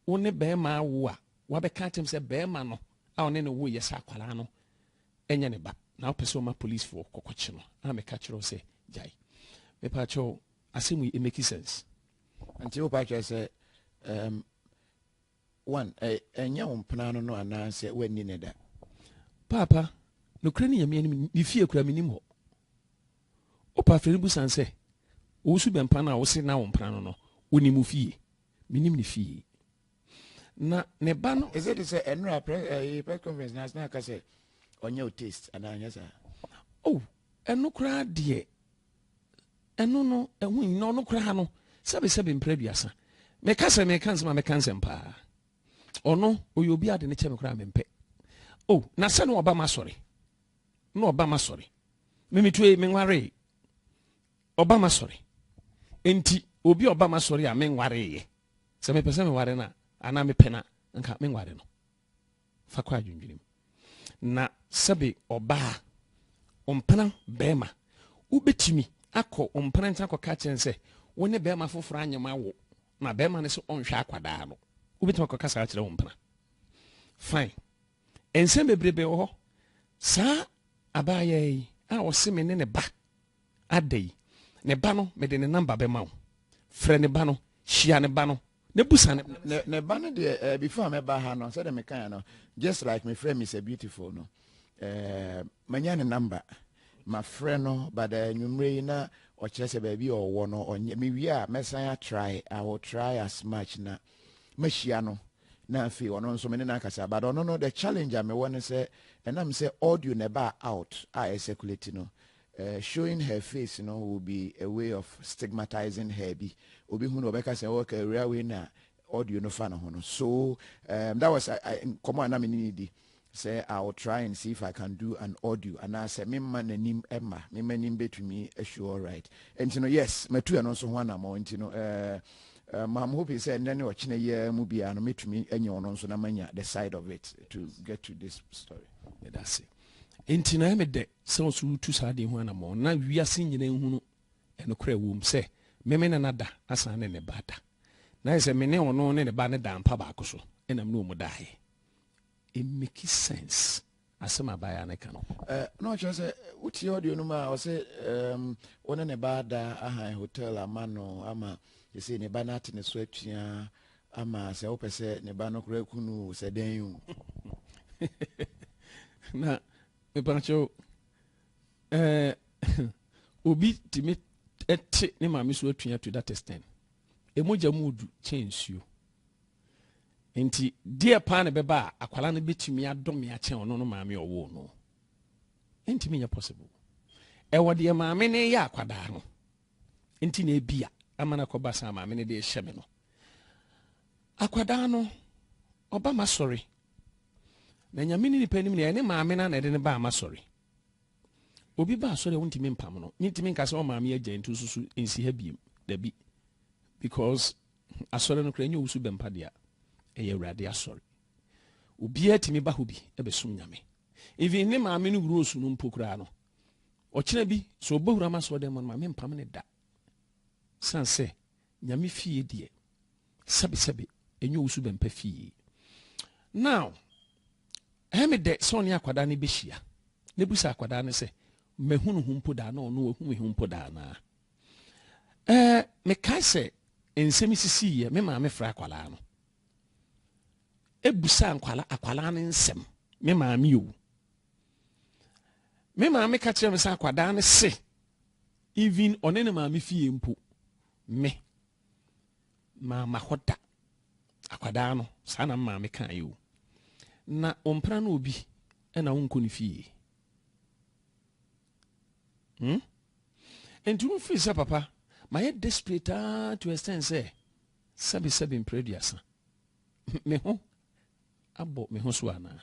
wo ne barima awo a wabɛka akyɛm sɛ barima no a ɔne no woyɛ sɛ akwaraa no ɛnyɛ ne ba na wopɛ sɛ ɔma policefoɔ kɔkɔkye no a meka kyerɛ wo sɛ gyae. Mepa kyɛw asɛm yi it make sense. Nti wo pa kyerɛ sɛ um, One, Ɛ, ɛnyɛ wo mpena ano no anaasɛ woanni no da? Paapa, nokorɛ ni Nyame anim, ne fie koraa mennim hɔ. Opafrɛ no busa no sɛ, Owusu bɛmpa no a wose na wo mpena no no, wonim wo fie? Mennim ne fie. Na ne ba no. Ɛsɛ de sɛ ɛnora prɛ, ɛyi, press conference na asena aka sɛ ɔnyɛ wo taste anaa anyɛ saa? Oh, ɛno koraa deɛ ɛno no ɛho nyina ɔno koraa no sɛbesɛbe mpere aduasa meka sɛ meka nsɛm a meka nsɛm paa ɔno ɔyɛ obi ade ne kyɛ me koraa mempɛ o oh, na sɛ ne ɔba ma sɔre na ɔba ma sɔre memetue menwaree ɔba ma sɔre enti obi ɔba ma sɔre a menwareeɛ sɛ mepɛ sɛ menware no a anaa mepɛ no a nka menware no Fa kɔ adwendwenem. Na sɛbe ɔbaa, ɔmpena barima, wobɛtumi akɔ ɔmpena nkyɛn akɔka akyerɛ no sɛ wo ne barima foforɔ anyem awo na barima no sɛ ɔnhwɛ akwadaa no. Wobɛtumi akɔka saa akyerɛ ɔmpena. Fine. Nsɛm bebrebe wɔ hɔ. Saa abaayɛ yi a ɔse me ne ne ba Ada yi, ne ba no, mede ne namba bɛma wo. Frɛ ne ba no, hyia ne ba no, na busa no. Ne, ne ba no deɛ, eh, before a mɛba ha no, sɛdeɛ mekaeɛ no, just like mefrɛ Mr. Beautiful no, eh, manya ne namba. Mafrɛ no, but eh, nwummerɛ yi na ɔkyerɛ sɛ baabi a ɔwɔ no, ɔnyɛ, mewie a, mɛsan atrae, I will try as much na mahyia no na afei ɔno nso me ne no akasa but ɔno no the challenge a mewɔ ne sɛ ɛnam sɛ audio na ɛbaa out a ɛsɛkulati no Eh showing her face no will be a way of stigmatizing her bi, obi hu no ɔbɛka sɛ ok awuraa wei na audio no fa ne ho no so um that was nkɔmmɔ a na me ne no di sɛ I will try and see if I can do an audio anaasɛ memma n'anim mma me m'anim bɛtumi show alright nti no yes matu ɛno nso ho anammɔn nti no eh ma I'm hoping sɛ ɛnnɛ ne ɔkyena yi ara mu biara no mɛtumi anya ɔno nso na manya the side of it to get to this story. Medase. Enti na ɛyɛ me dɛ sɛ ɔsoro retu saa ade ho anammɔn na wiase nyinaa nhunu nokorɛ wom sɛ meme ne no da asan ne ne ba da. Na ayɛ sɛ me ne ɔno ne ne ba no daa mpa baako so na me ne wɔn daeɛ. Ɛmmeki sense asɛm a abaayewa no ka no. Eh, na ɔkyerɛ sɛ wotie audio no mu a ɔse um, wo ne ne ba da ahan hotel ama no ama ɛsei ne ba no ate ne so atua Ama sɛ wopɛ sɛ ne ba no koraa ku no o, sɛ dɛn o. Na mepakyɛw, ɛɛ, obi tumi te ne maame so atua to that extent. Emogya mu du kyɛn nsuo. Nti deɛ paa na bɛba a akwala no bɛtumi adɔ me akyɛn ɔno no maame ɔwoo no. Ɛntumi nyɛ possible. Ɛwɔ deɛ maame ne yɛ akwadaa no. nti na ebi a ama no akɔba saa maame no de rehyɛ me no akwadaa no ɔba ma sɔre na nyame ne nipa anim na ɛne maame no na ɛde no baa ma sɔre obi ba asɔre a wontumi mpam no mentumi nka sɛ ɔmaame agya nti nsusu nsi ha biem dabi because asɔre no kora ɛnyɛ owusu bɛmpa dea ɛyɛ awurade asɔre obiara tumi ba hɔ bi ɛbɛsom nyame even ne maame no wuro osu no mpo koraa no Ɔkyena bi, sɛ ɔbɛwura m'asɔɔdɛm mu no, ma mempam no da. Sane sɛ, Nyame fie deɛ, sɛbesɛbe, ɛnyɛ owusu bɛmpa fie. Now, ɛyɛ me dɛ sɛ ɔne akwadaa no bɛhyia. Na ebu sɛ akwadaa no sɛ, mahu no ho mpo daa na ɔno wahu me ho mpo daa naa. Ɛɛ, mekae sɛ nsɛm sisi yɛ me maame fra akwadaa no. Ebusa nkwala akwadaa no nsɛm, me maame o. me maame ka kyerɛ me sɛ akwadaa no se even ɔne ne maame fie mpo me maama hɔ da akwadaa no saa na maame ka yi o na ɔmpra no obi ɛna wonkɔ ne fie hmm? nti wofiri sɛ papa mayɛ desperate aa to extend sɛ sɛbesɛbe mprɛ aduasa me ho abɔ me ho so anaa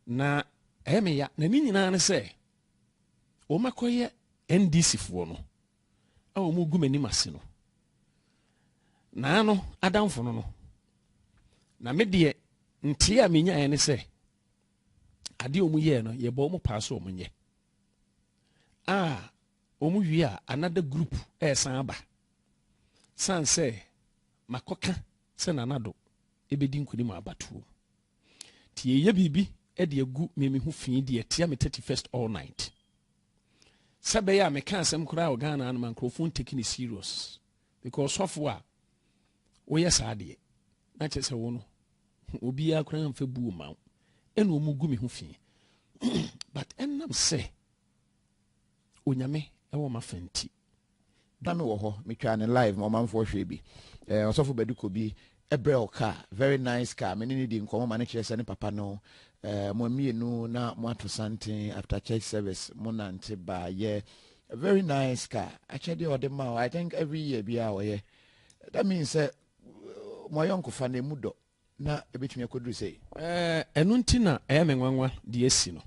na ɛyɛ me ya na ne nyinaa ne sɛ wɔmakɔyɛ ndc foɔ no a wɔn gu m'anim ase no naa no adamfo no no na me deɛ nteɛ a menyaeɛ ne sɛ adeɛ wɔn yɛɛ no yɛbɔ wɔn paa so wɔn nyɛ a wɔn wie a another group ɛresan aba san sɛ makɔka sɛ nanado bɛdi nkonim wɔ abatoɔ mu. Nti yɛyɛ biribi de agu me me ho fii deɛ ɛtia me 31st all night. Sɛ bɛyɛ a meka asɛm koraa wɔ Ghana no ma nkurɔfoɔ nteki ne serious. Because sɔfo a woyɛ saa deɛ na kyerɛ sɛ wo no obiara koraa mfa buo ma wo. Ɛna wɔn gu me ho fii. But ɛnam sɛ onyame ɛwɔ ma fa nti. Da me wɔ hɔ metwaa no live ma ɔmanfoɔ hwɛɛ bi. Eh, ɔsɔfo Badu Kobi brɛ wo car, very nice car. Me ne no di nkɔmmɔ ma no kyerɛ sɛ ne papa no eh, mo mmienu na moato santen after church service mo nante baayɛ. Very nice car. Akyɛdeɛ ɔde ma I think every year biara ɔyɛ. That means sɛ mo ayɔnkofa no emu dɔ. na ebetumi akoduru sei. Ɛno nti na ɛyɛ me nwanwa de asi no,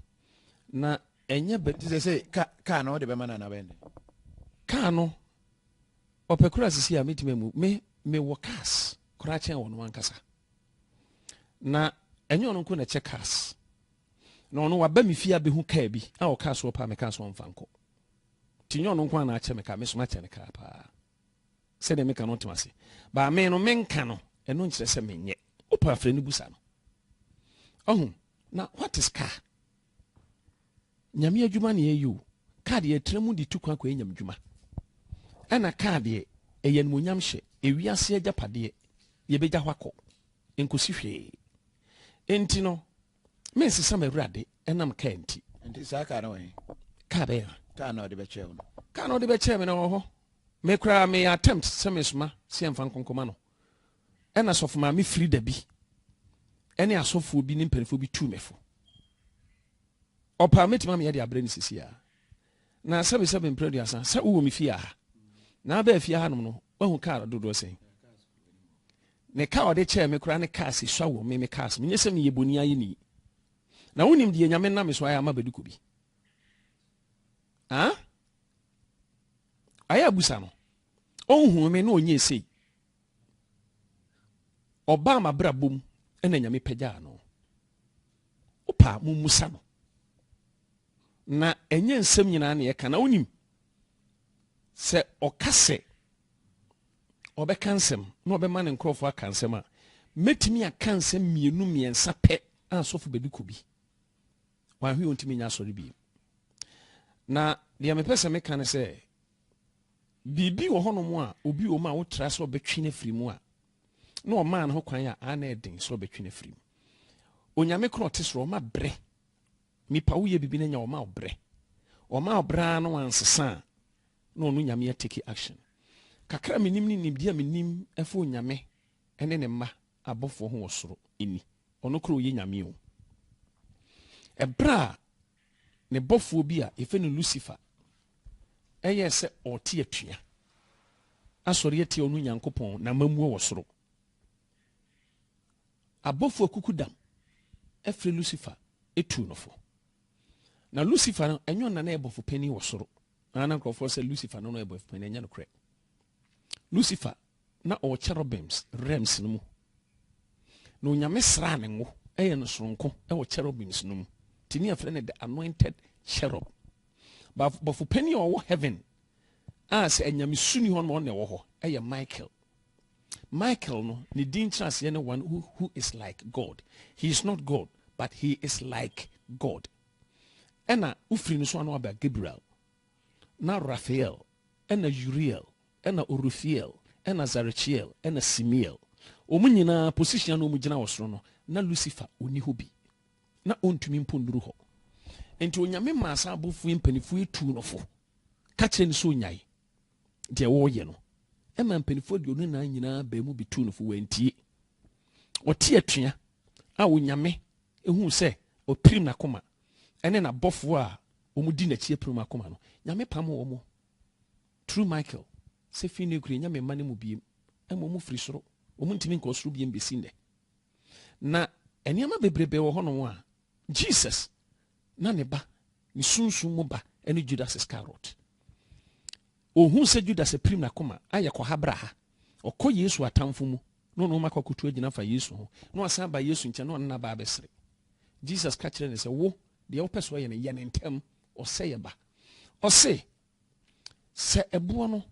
na ɛnyɛ bɛ. Nti sɛ sɛ ka kaa no ɔde bɛma no anaa bɛn de. Kaa no ɔpɛ kura sisi a metumi amu me me wɔ cars koraa kyɛn wɔn ankasa na ɛnyɛ ɔno nko na ɛkyɛ cars na ɔno waba me fie abɛhu kaa bi a ɔkaa soɔ paa me kaa soɔ mfa nkɔ ti nyɛ ɔno nko a na akyɛ me kaa me so makyɛ ne kaa paa. sɛdeɛ meka no ɔte ase baa me no menka no ɛno nkyerɛ sɛ menyɛ wopɛ afrɛ no busa no ɔho na what is car nyame adwuma ne ɛyɛ o car deɛ ɛtra mu de tu kwan kɔ ɛnyam dwuma ɛna car deɛ ɛyɛ animonyam hyɛ ewiase agyapadeɛ yɛbɛgya hɔ akɔ nkɔsi hwee enti no Mensesa m'Awurade ɛnam kaa nti. Nti saa kaa no wɔ he? Kaa bɛyɛ ha? Kaa na ɔde bɛkyɛɛ wo no. Kaa na ɔde bɛkyɛɛ me no wɔ hɔ. Me koraa meyɛ attempt sɛ mesoma sɛ yɛmfa nkonkoma no. Ɛna sɔfo maame firi da bi ɛne asɔfoɔ bi ne mpanimfoɔ bi tuu me fo. Ɔpaa mɛtumi ameyɛ de abrɛ ne sisi a. Na sɛ me sɛ me mpere aduasa sɛ wowɔ me fie aha. Na abɛɛ fie aha nom no wahu kaa dodoɔ sɛn. Ne ka a ɔde kyɛɛ me koraa ne ka a sɛ sua wɔ me, me ka sɛ, Menyɛ sɛ meyɛ boni ayeni. Na wonim deɛ Nyame nam me so ayɛ ama Baduko bi? Ah? Ayɛ abusa no. Ɔnhuu me na ɔnyɛ esei. Ɔbaa m'abrabɔ mu na Nyame pagyaa no. Wopa a, mommusa no. Na ɛnyɛ nsɛm nyinaa na yɛka na wonim sɛ ɔka sɛ ɔbɛka nsɛm na ɔbɛma ne nkurɔfoɔ aka nsɛm a, mɛtumi aka nsɛm mmienu mmiɛnsa pɛ a asɔfo bɛdi kɔ bi. Wanhwe ɔntumi nya asɔre biem. Na deɛ mepɛ sɛ meka ne sɛ, biribi wɔ hɔnom a obi wɔ mu a wotra sɛ ɔbɛtwe no afiri mu a, na ɔmaa no ho kwan a, a na ɛden sɛ ɔbɛtwe no afiri mu. Onyame korɔ ɔte soro, ɔma berɛ Nipa wo yɛ bibi na nya ɔma wo brɛ ɔma wo brɛ aa na wansesa a na ɔno nyame a take action kakra a menim ne nimdeɛ a menim ɛfa onyame ɛne ne mma abɔfoɔ ho wɔ soro ɛni ɔno kora ɔyɛ nyame o ɛberɛ a ne bɔfoɔ bi a yɛfɛ no Lucifer ɛyɛ sɛ ɔte atua asɔre atia ɔno nyankopɔn na mamuo wɔ soro Abɔfoɔ akukudam afiri Lucifer tuu no fo. Na Lucifer no, ɛnyɛ ɔno na na yɛ bɔfo panin wɔ soro. Na na nkurɔfoɔ sɛ Lucifer no na ɔyɛ bɔfo panin, ɛnyɛ nokorɛ. Lucifer na ɔwɔ cherubims realms no mu. Na Onyame sraa ne ngo yɛ no soronko wɔ cherubims no mu. Nti ne yɛfrɛ no the anointed cherub. Ba bɔfo panin a ɔwɔ heaven a sɛ anyamesu ni hɔ no ɔno na ɛwɔ hɔ yɛ Michael. Michael no ne din nkyerɛaseɛ ne one who, who is like God. He is not God, but he is like God. Ɛna wofiri no so ano aba Gabriel, na Raphael, ɛna Uriel, ɛna Orufiel, ɛna Zarechiel, ɛna Simiel. Wɔn nyinaa position a na wɔn gyina wɔ soro no, na Lucifer ɔni hɔ bi, na ɔntumi mpo nnuru hɔ. Nti Onyame maa saa abɔfoɔ yi mpanifoɔ yi tuu no fo, ka kyerɛ no sɛ onyae. deɛ wɔreyɛ no ɛma mpanimfoɔ aduonu nnan nyinaa baa mu bi tuu no fo wɔantie ɔte atua a onyame ehu sɛ ɔpirim n'akoma ɛne n'abɔfoɔ a wɔdi n'akyi apirim akoma no nyame pam wɔn turu michael sɛ fi ne kure nyame mma no mu biem ɛma wɔn firi soro wɔn ntumi nkɔ soro biem bɛsi nnɛ na nneɛma bebrebe wɔ hɔnom a jesus na ne ba, ne sunsum mu ba ne Judas Iskariot. Ohuu sɛ Judas apirim n'akoma ayɛ kɔha braha. Ɔkɔ Yesu atamfo mu na ɔne wɔn akɔkoto agyina fa Yesu ho na wasan ba Yesu nkyɛn na ɔne no aba abɛsere. Jesus ka kyerɛɛ no sɛ, Wo, deɛ wopɛ sɛ ɔyɛ no, yɛ no ntɛm. Ɔsɛeɛ ba. Ɔse, Sɛ ɛboɔ no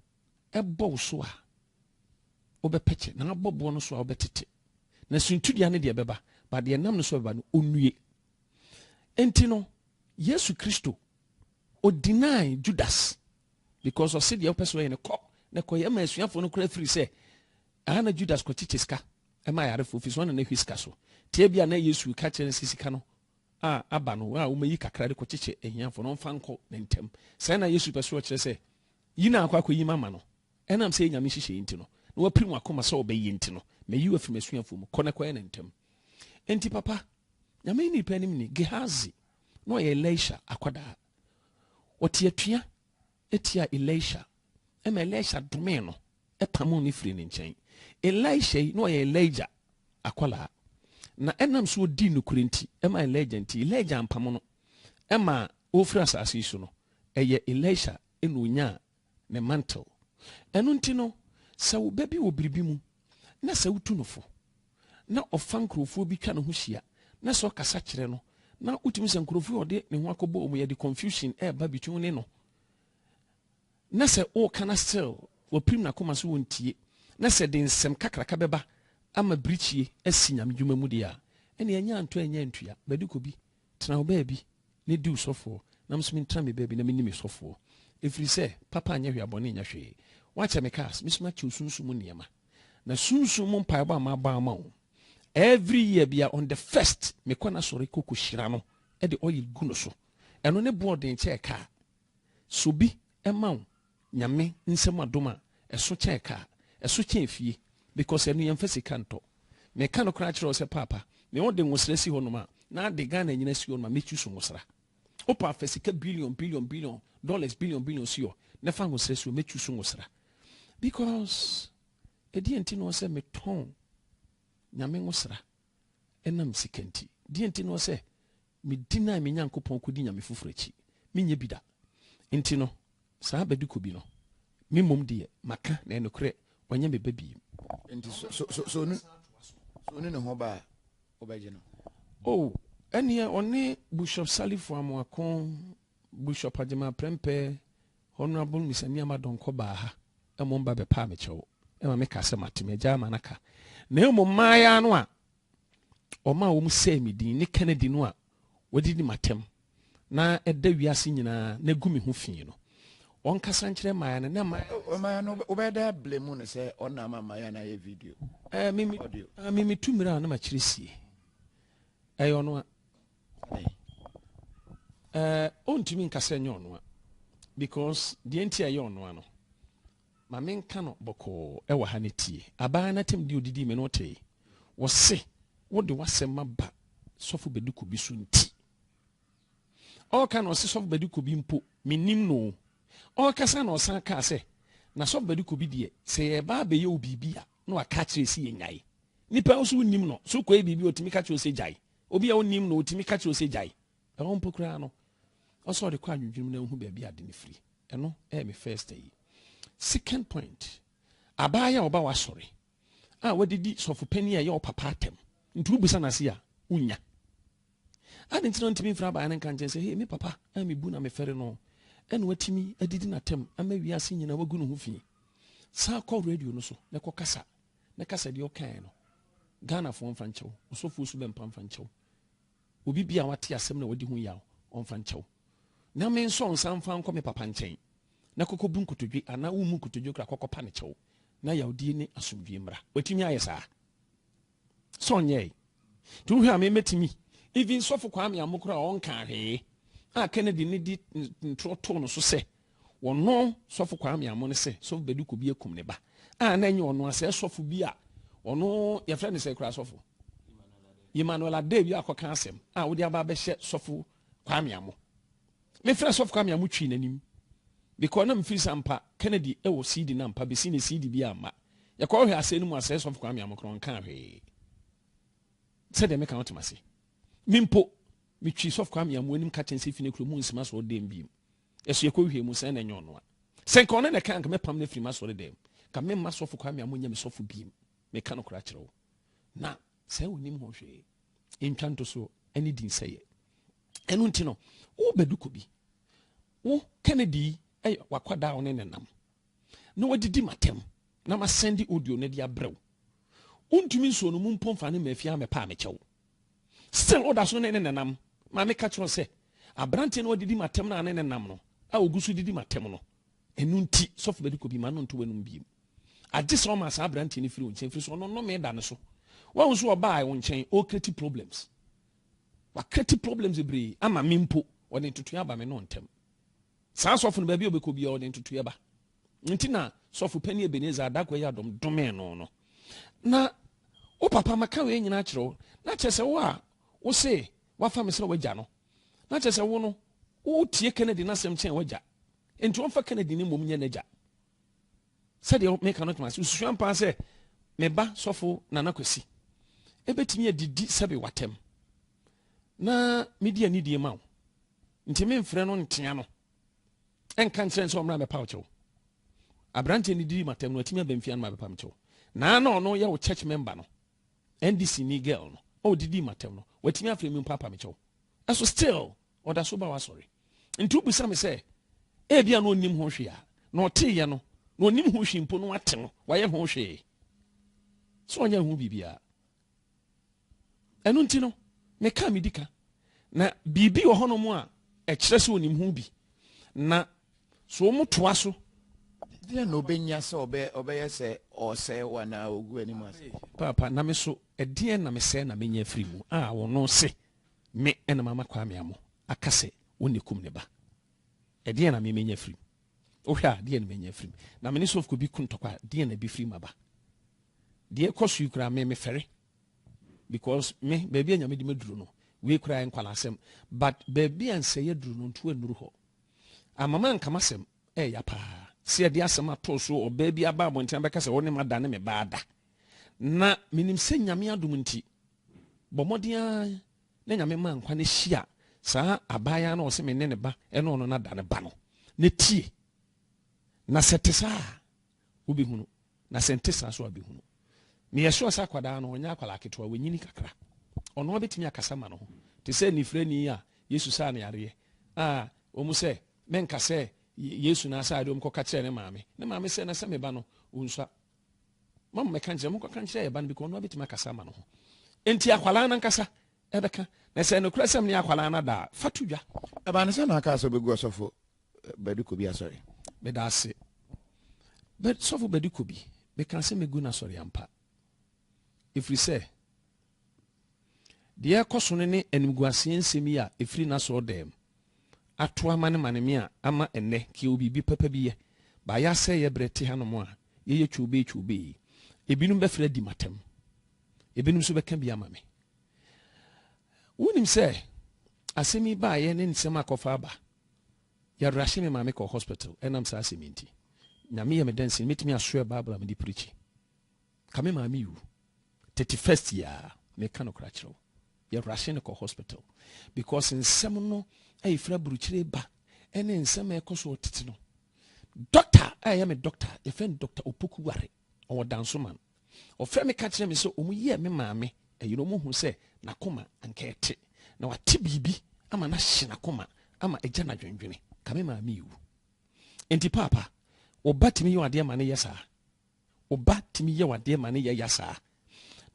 bɔ wo so a, wobɛpɛkyɛ, na abɔ boɔ no so a, wobɛtete. Na suntidua no deɛ ɛbɛba, ba deɛ ɛnam no so bɛba no, ɔnnue. Enti no, Yesu Kristo, o deny Judas because ɔse deɛ ɔpɛ sɛ ɔyɛ no kɔ na kɔyɛ ma asuafoɔ no koraa firi sɛ ɛha na Judas kɔkyekye sika ɛma ayarefoɔ firi so ɔna na ɛhwɛ sika so tie bi a na Yesu ka kyerɛ no sɛ sika no a aba no a wɔmayi kakra de kɔkyekye ahiafoɔ no ɔmfa nkɔ ne ntɛm sɛ na Yesu pɛ so ɔkyerɛ sɛ yi na akɔ akɔyi mama no Ɛnam sɛ ɛyɛ Nyame nhyehyɛeɛ nti no, na wapirim w'akoma sɛ ɔbɛyɛ nti no, mayi wo afiri m'asuafoɔ mu. Kɔ na kɔyɛ no ntɛm. Enti papa, Nyame nnipa anim ni, Gehazi, na ɔyɛ Elisha akwadaa. Ɔte atua tiaa Elisha, ɛma Elisha domee no, pamoo no firii ne nkyɛn. Elisha yi, na ɔyɛ Elijah akwadaa, na ɛnam sɛ ɔdii nokorɛ nti, ɛma Elijah nti, Elijah ampamo no, ɛma ɔrefiri asase yi so no, ɛyɛ Elisha na ɔnyaa ne mantle. Ɛno nti no, sɛ wo ba bi wɔ biribi mu na sɛ wotu no fo na ɔfa nkurɔfoɔ bi twa ne ho hyia na sɛ ɔkasa kyerɛ no na wotumi sɛ nkurɔfoɔ yi ɔde ne ho akɔbɔ wɔn yɛde confusion ɛreba between ne no na sɛ ɔreka na still wɔpirim n'akoma so wɔntie na sɛ de nsɛm kakraka bɛba ama birikyie asi nyame dwuma mu deɛ a ɛne ɛnyɛ antɔ ɛnyɛ antua bɛde kɔ bi Tena wo baabi na di wo sɔfoɔ, na me nso mentra me baabi na menni me sɔfoɔ, ɛfiri sɛ papa nyɛ hwee a bɔne nyɛ hwee. Woakyɛ me cars, me nso makyɛ wo sunsum mu nneɛma, na sunsum mu mpaebɔ a mabɔ ama wo every year biara on the first mekɔ n'asɔre kɔ kɔhyira no de oil gu no so, ɛno ne boɔ ɔden kyɛɛ car. Sɛ obi ma wo Nyame nsɛm adom a ɛso kyɛn car, ɛso kyɛn fie because ɛno yɛnfa sika ntɔ. Meka no koraa kyerɛ wo sɛ paapa me ode nwosra si hɔnom a na ade Ghana nyina si hɔnom a mɛ choose nwosra. Opa afa sika billion billion billion dollars billion billion si hɔ na fa nwosra si hɔ mɛ choose nwosra because ɛdeɛn nti noɔ sɛ me tɔn Nyame nwosra. ɛnam sika nti. Deɛn nti ne ɔsɛ medi na me Nyankopɔn kɔdi nyame foforɔ akyi? Menyɛ bi da. Nti no, saa bɛdekɔ bi no, me mmom deɛ maka, na nokorɛ ɔnyɛ me ba bi. Nti sɛ ɔnu ne ho ba a, wobɛgye no? O, ɛnneɛ ɔne Bushɔp Salifu Amoako, Bushɔp Agyemang Prempeh, Honourable Miss Amiama Donkor baa ha ɛma ɔmba bɛpaa me kyɛw ɛma me kaa sɛ mate m'agyaa ma naka na ɛmom mmayaa no a ɔmaa wɔn sɛɛ me din ne Kennedy no a wɔde di m'atɛm na ɛda wiase nyinaa na gu me ho fii no ɔnkasa nkyerɛ mmayaa no na mmayaa no wobɛda blame mu no sɛ ɔna ama mmayaa no ayɛ video ɛɛ me me tu mmerɛ a na makyerɛ sie ɛyɛ ɔno a Ɛɛ ɔntumi nka sɛ ɛnyɛ ɔnoa because deɛ nti a ɛyɛ ɔnoa no ma menka no bɔkɔɔ ɛwɔ ha no tie abaa no atam di odidi me no tee wɔse wode w'asɛm aba sɔfo bɛdiko bi so nti ɔka na ɔse sɔfo bɛdiko bi mpo menim no ɔkasa na ɔsan kaa sɛ na sɔfo bɛdiko bi deɛ sɛ yɛba abɛyɛ wo biribi a na waka kyerɛ si yɛ nyae nipa nso wonim no so kɔɛ biribi ɔtumi ka kyerɛ sɛ gyae Obi a wonnim no, otumi ka kyerɛ wo sɛ gyae. Ɛhɔ mpo koraa no, ɔsɛ ɔde kɔ adwendwenem na ohu baabi a ade no firi. Ɛno yɛ me first ayi. Second point, abaayewa a ɔba w'asɔre a wode di sɔfo panin a ɛyɛ wo papa atɛm nti wobisa no ase a, wunnya. Ade nti na ntumi mfiri abaayewa no nka nkyɛn sɛ, hei, me papa a mebu na mefɛre no, ɛna watumi adidi n'atɛm ama wiase nyinaa wagu ne ho fi. San kɔ radio no so na kɔkasa ne kasa deɛ ɔkaeɛ no Ghanafoɔ mfa nkyɛ wo, ɔsɔfoɔ su bɛmpa mfa nkyɛ wo, obi bi a wate asɛm na wadi ho yaw ɔmfa nkyɛ wo, na me nso ɔnsan mfa nkɔ me papa nkyɛn na kɔkɔbu nkotodwe anaa wommu nkotodwe koraa kɔkɔpa no kyɛw na yawdie ne asomdwoeɛ mmra. Watumi ayɛ saa? Sɛ ɔnyɛe nti wohwɛ a memɛtumi even sɔfo Kwame Amokora a ɔnkaa hwee a Kennedy ne di ntorɔ too no so sɛ Wɔno sɔfo Kwame Amoh no sɛ sɔfo Bediako bi akum ne ba a na ɛnyɛ ɔno asɛ sɔfo bi a ɔno yɛfrɛ ne sɛ kura sɔfo Emmanuel Adewi akɔka asɛm a wode aba abɛhyɛ sɔfo Kwame Amoh. Mefrɛ sɔfo Kwame Amoh twii n'anim because na mefiri sɛ ampa Kennedy wɔ CD na ampa bɛsi ne CD bi amma. Yɛkɔhwɛ asɛe no mu asɛe sɔfo Kwame Amoh korɔ nkaa hwee. Sɛdeɛ meka wotem ase. Me mpo metwi sɔfo Kwame Amoh anim ka kyɛn sɛ fi ne kuro mu nsima so ɔdɛm biem. Ɛso yɛ kɔ wie mu sɛn na ɛnyɛ ɔnoa sɛ nka ɔno na ɛka anka mɛpam no afiri m'asɔre dɛm mu nka me mma sɔfo kwame a monyɛ me sɔfo biem meka no kora kyerɛ wo na sɛ onim ho hwee ntwa nto so ɛne din sɛ yɛ ɛno nti no wo bɛdu kɔ bi wo kennedy ɛyɛ wakwadaa wo ne nenam na wadidi m'atɛm na masɛnde audio no de abrɛ wo. Wontumi nsoo no mu mpo mfa no mmaa fie ara mɛpɛ a mekyɛ wo. Still woda so ne ne nenam. Maame ka kyerɛ sɛ aberanteɛ no wadidi m'atɛm no a ne nenam no a ogu so didi m'atɛm no ɛno nti sɔfo Bɛdiko bi ma no nto w'anum biem. Agye sɛ ɔma saa aberanteɛ no firi wo nkyɛn firi so ɔno nnome da ne so. Wahu nso ɔbaa wo nkyɛn ɔrekreti problems. Wakreti problems bebree ama me mpo ɔde ntotoeɛ aba me ne wo ntam. Saa sɔfo no, baabi a ɔbɛkɔ biara, ɔde ntotoeɛ ba. Nti na sɔfo panin Ebenezer Adagwa yi adom domee no no. Na wo papa maka wei nyinaa kyerɛ wo, na kyerɛ sɛ wo a wo se wafa me sɛ w'agya no, na kyerɛ sɛ wo no wotie Kennedy n'asɛm kyɛn w'agya. Nti ɔmfa Kennedy no mmom nyɛ n'agya. Sɛdeɛ meka no tena ase, wosusua mpaa sɛ me ba sɔfo Nana Kwasi ɛbɛtumi adidi sɛbe w'atɛm na medi anidie ma wo. ntumi mfrɛ no ntea no nka nkyerɛ sɛ ɔmmra mɛpaw kyɛw aberanteɛ no didi matam no atumi aba mfia no ma bɛpam kyɛw na na ɔno yɛ wo church member no ndc ni girl no ɔdidi matam no watumi afrɛ mi mpapa me kyɛw ɛso still ɔda so ba wasɔre nti wobisa me sɛ ebia na ɔnim ho hwee a na ɔteeɛ no na ɔnim ho hwee mpo no wate no wayɛ ho hwee sɛ ɔnyɛ ho biribiara Ɛno nti no, meka a medi ka. Na biribi wɔ hɔnom a ɛkyerɛ sɛ onim ho bi. Na so wɔn toa so. Deɛ na ɔbɛnya sɛ ɔbɛyɛ sɛ ɔresɛe wo anaa ɔgu anim ase. Paapa, na me so, ɛdeɛn na mesɛe na menya afiri mu a ɔno se me na mama Kwame Amoh aka sɛ ɔnni kum ne ba? Ɛdeɛn na me menya afiri mu? Wohwɛ a, deɛn na manya afiri mu? Na me ne sɔfkuo bi ko ntɔkwa a, deɛn na ɛbɛfiri mu aba? Deɛ ɛkɔ so yi koraa, me mefɛre. Because me, baabi a Nyame de me duru no, wei koraa yɛ nkwalaasɛm. But baabi a nsɛeɛ aduru no, ntu annuru hɔ. Ama manka m'asɛm, ɛɛya paa. Sɛ yɛde asɛm ato so, ɔbaa bi aba abɔnten abɛka sɛ, wo ne m'ada ne me ba ada. Na menim sɛ Nyame adom nti, bɔ mmɔden ara Na Nyame maa nkwa no hyiaa saa abaayaa no a ɔse mene ne ba ɛne ɔno na da ne ba no. Na tie, na sɛ ɛte saa a, wobɛhunu, na sɛ nte saa nso a wobɛhunu. Meyɛ sure sɛ akwadaa no ɔnyɛ akwadaa ketewa, wanyini kakra. Ɔno ara bɛtumi akasa ma ne ho. Te sɛ anifirani yi a Yesu saa no yareɛ a wɔn sɛ menka sɛ Yesu na saa adeɛ wɔn kɔka kyerɛɛ ne maame. Ne maame sɛ na sɛ me ba no ɔnsua. ma mmɛka nkyerɛ monkɔka nkyerɛ yɛ ba no bi kɔ ɔno abɛtumi akasa ama no ho enti akwalaa no ankasa ɛbɛka na sɛ nokorɛ sɛm ne akwalaa no ada a fa to dwa ɛbaa no sɛ na aka sɛ ɔbɛgu ɔsɔfo eh, bɛde kɔ bi asɔre meda ase sɔfo bɛde kɔ bi meka sɛ mɛgu no asɔre ampa ɛfiri sɛ Deɛ ɛrekɔ so no ne animguaseɛ nsɛm yi a ɛfiri n'asɔɔdɛɛm ato amanemane me a ama ɛnnɛ nka yɛwɔ biribi papa bi yɛ, ba yɛasɛeɛ berɛ te hanom a yɛyɛ kyobee kyobee yi, ebinom bɛfrɛ adi m'atɛm, ebinom nso bɛka bi ama me. Wonim sɛ asɛm yi baeɛ ne nsɛm a kɔfa aba, yɛrahye me maame kɔ hospital ɛnam saa asɛm yi nti. Nyame yɛ me dɛnsene, mɛtumi asoɛ Bible a mede pirikyi. Ka me maame wu thirty first yi aa me ka nokora kyerɛ wo yɛ rashe no kɔ hospital because nsɛm no ɛyɛ fira burukyire ba ɛne nsɛm a ɛkɔ so ɔtete no doctor a ɛyɛ me doctor yɛ fɛn doctor opoku ware ɔwɔ danso man ɔfrɛ me ka kyerɛ me sɛ ɔmo yɛ me maame ɛyɛ ɔmo hu sɛ n'akoma anka ɛte na wate biribi ama n'ahye n'akoma ama ɛgya n'adwendwene ka me maame wu nti paapa ɔba tumi yɛ adeɛ ma ne yɛ saa Wo ba tumi yɛ wo adeɛ ma ne yɛ ya saa.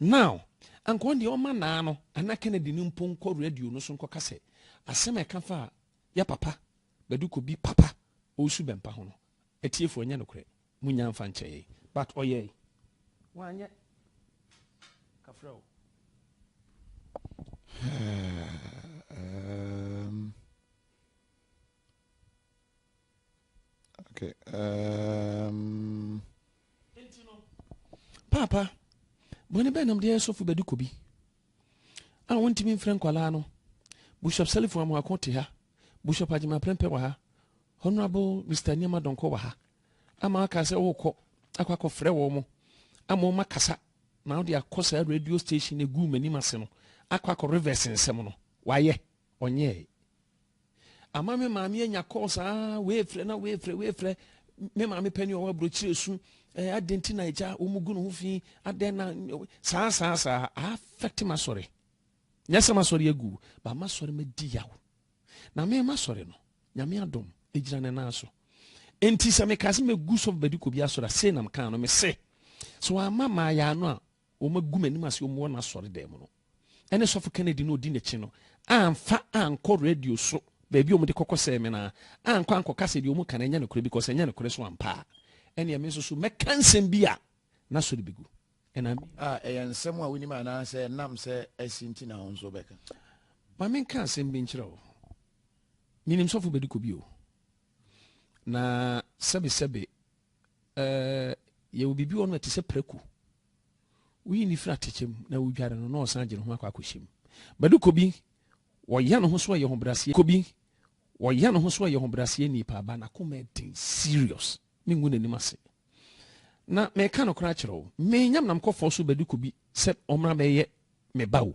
Now, anka ɔno deɛ ɔma naa no anaa Kennedy no mpo nkɔ radio no so nkɔka sɛ asɛm a ɛka faa yɛ papa Badu Kobi papa Owusu Bɛmpa ho no, atiefoɔ ɛnyɛ nokorɛ. Monnya mfa nkyɛ yɛn. But ɔyɛe. Wanyɛ. Kafra o. Herm. Okay. Um, Papa, bɔne bɛn nam deɛ sɔfo bɛdi kɔ bi a wɔntumi mfrɛ nkwalaa no bishop salifo amoako te ha bishop agyema prɛmpɛ wɔ ha honorable mr nneɛma dɔnkɔ wɔ ha ama aka sɛ wokɔ akɔ akɔfrɛ wɔ mo ama ɔma kasa na wode akɔ saa radio station ɛguu m'anim ase no akɔ akɔ reverse nsɛm no wayɛ ɔnyɛe Ama me maame anya kɔɔ saa wei frɛ na wei frɛ wei frɛ me maame pɛ ne ɔwɔ aburokyire su ɛɛ adan ti na agya wɔn gu ne ho fi adan na saa saa saa afɛte ma sɔre nyɛ sɛ ma sɔre agu ba ma sɔre ma di yaw na me ma sɔre no nyame adom egyina ne nan so nti sɛ meka sɛ megu sɔfo badi kɔ bi asɔre a sei nam kan no me se so ama maa yɛ ano a Wɔagu m'anim ase wɔn wɔ n'asɔredan mu no. Ɛne sɔfo Kennedy no a odi n'akyi no amfa ankɔ radio so baabi a wɔde kɔkɔsɛɛ me no ara ankɔ ankɔka sɛ deɛ wɔka no ɛnyɛ nokorɛ because ɛnyɛ nokorɛ so ampa a ɛneɛ me nso so mɛka nsɛm bi a n'asɔre bɛgu ɛna A, ɛyɛ nsɛm a wonim anaasɛ ɛnam sɛ asi nti na wo nso wobɛka? Ma menka asɛm bi nkyerɛ wo. Menim sɔfo Bedi Kobi o. Na sɛbesɛbe Ɛɛ, yɛwɔ biribi wɔ hɔ no ɛte sɛ prako. Woyi no firi atɛkyɛ mu na wodware no na ɔsan gye ne ho akɔ akɔhyɛ mu. Bɛde kɔ bi, wɔyɛ ne ho so ɛyɛ hobraseɛ. Kɔ bi, wɔyɛ ne ho so ɛyɛ hobraseɛ nie paa ba n'akoma ɛden serious. Mengu n'anim ase. Na meka nokorɛ akyerɛ wo, menyam nam kɔfɔɔ so bɛde kɔ bi sɛ ɔmmra bɛyɛ me ba o.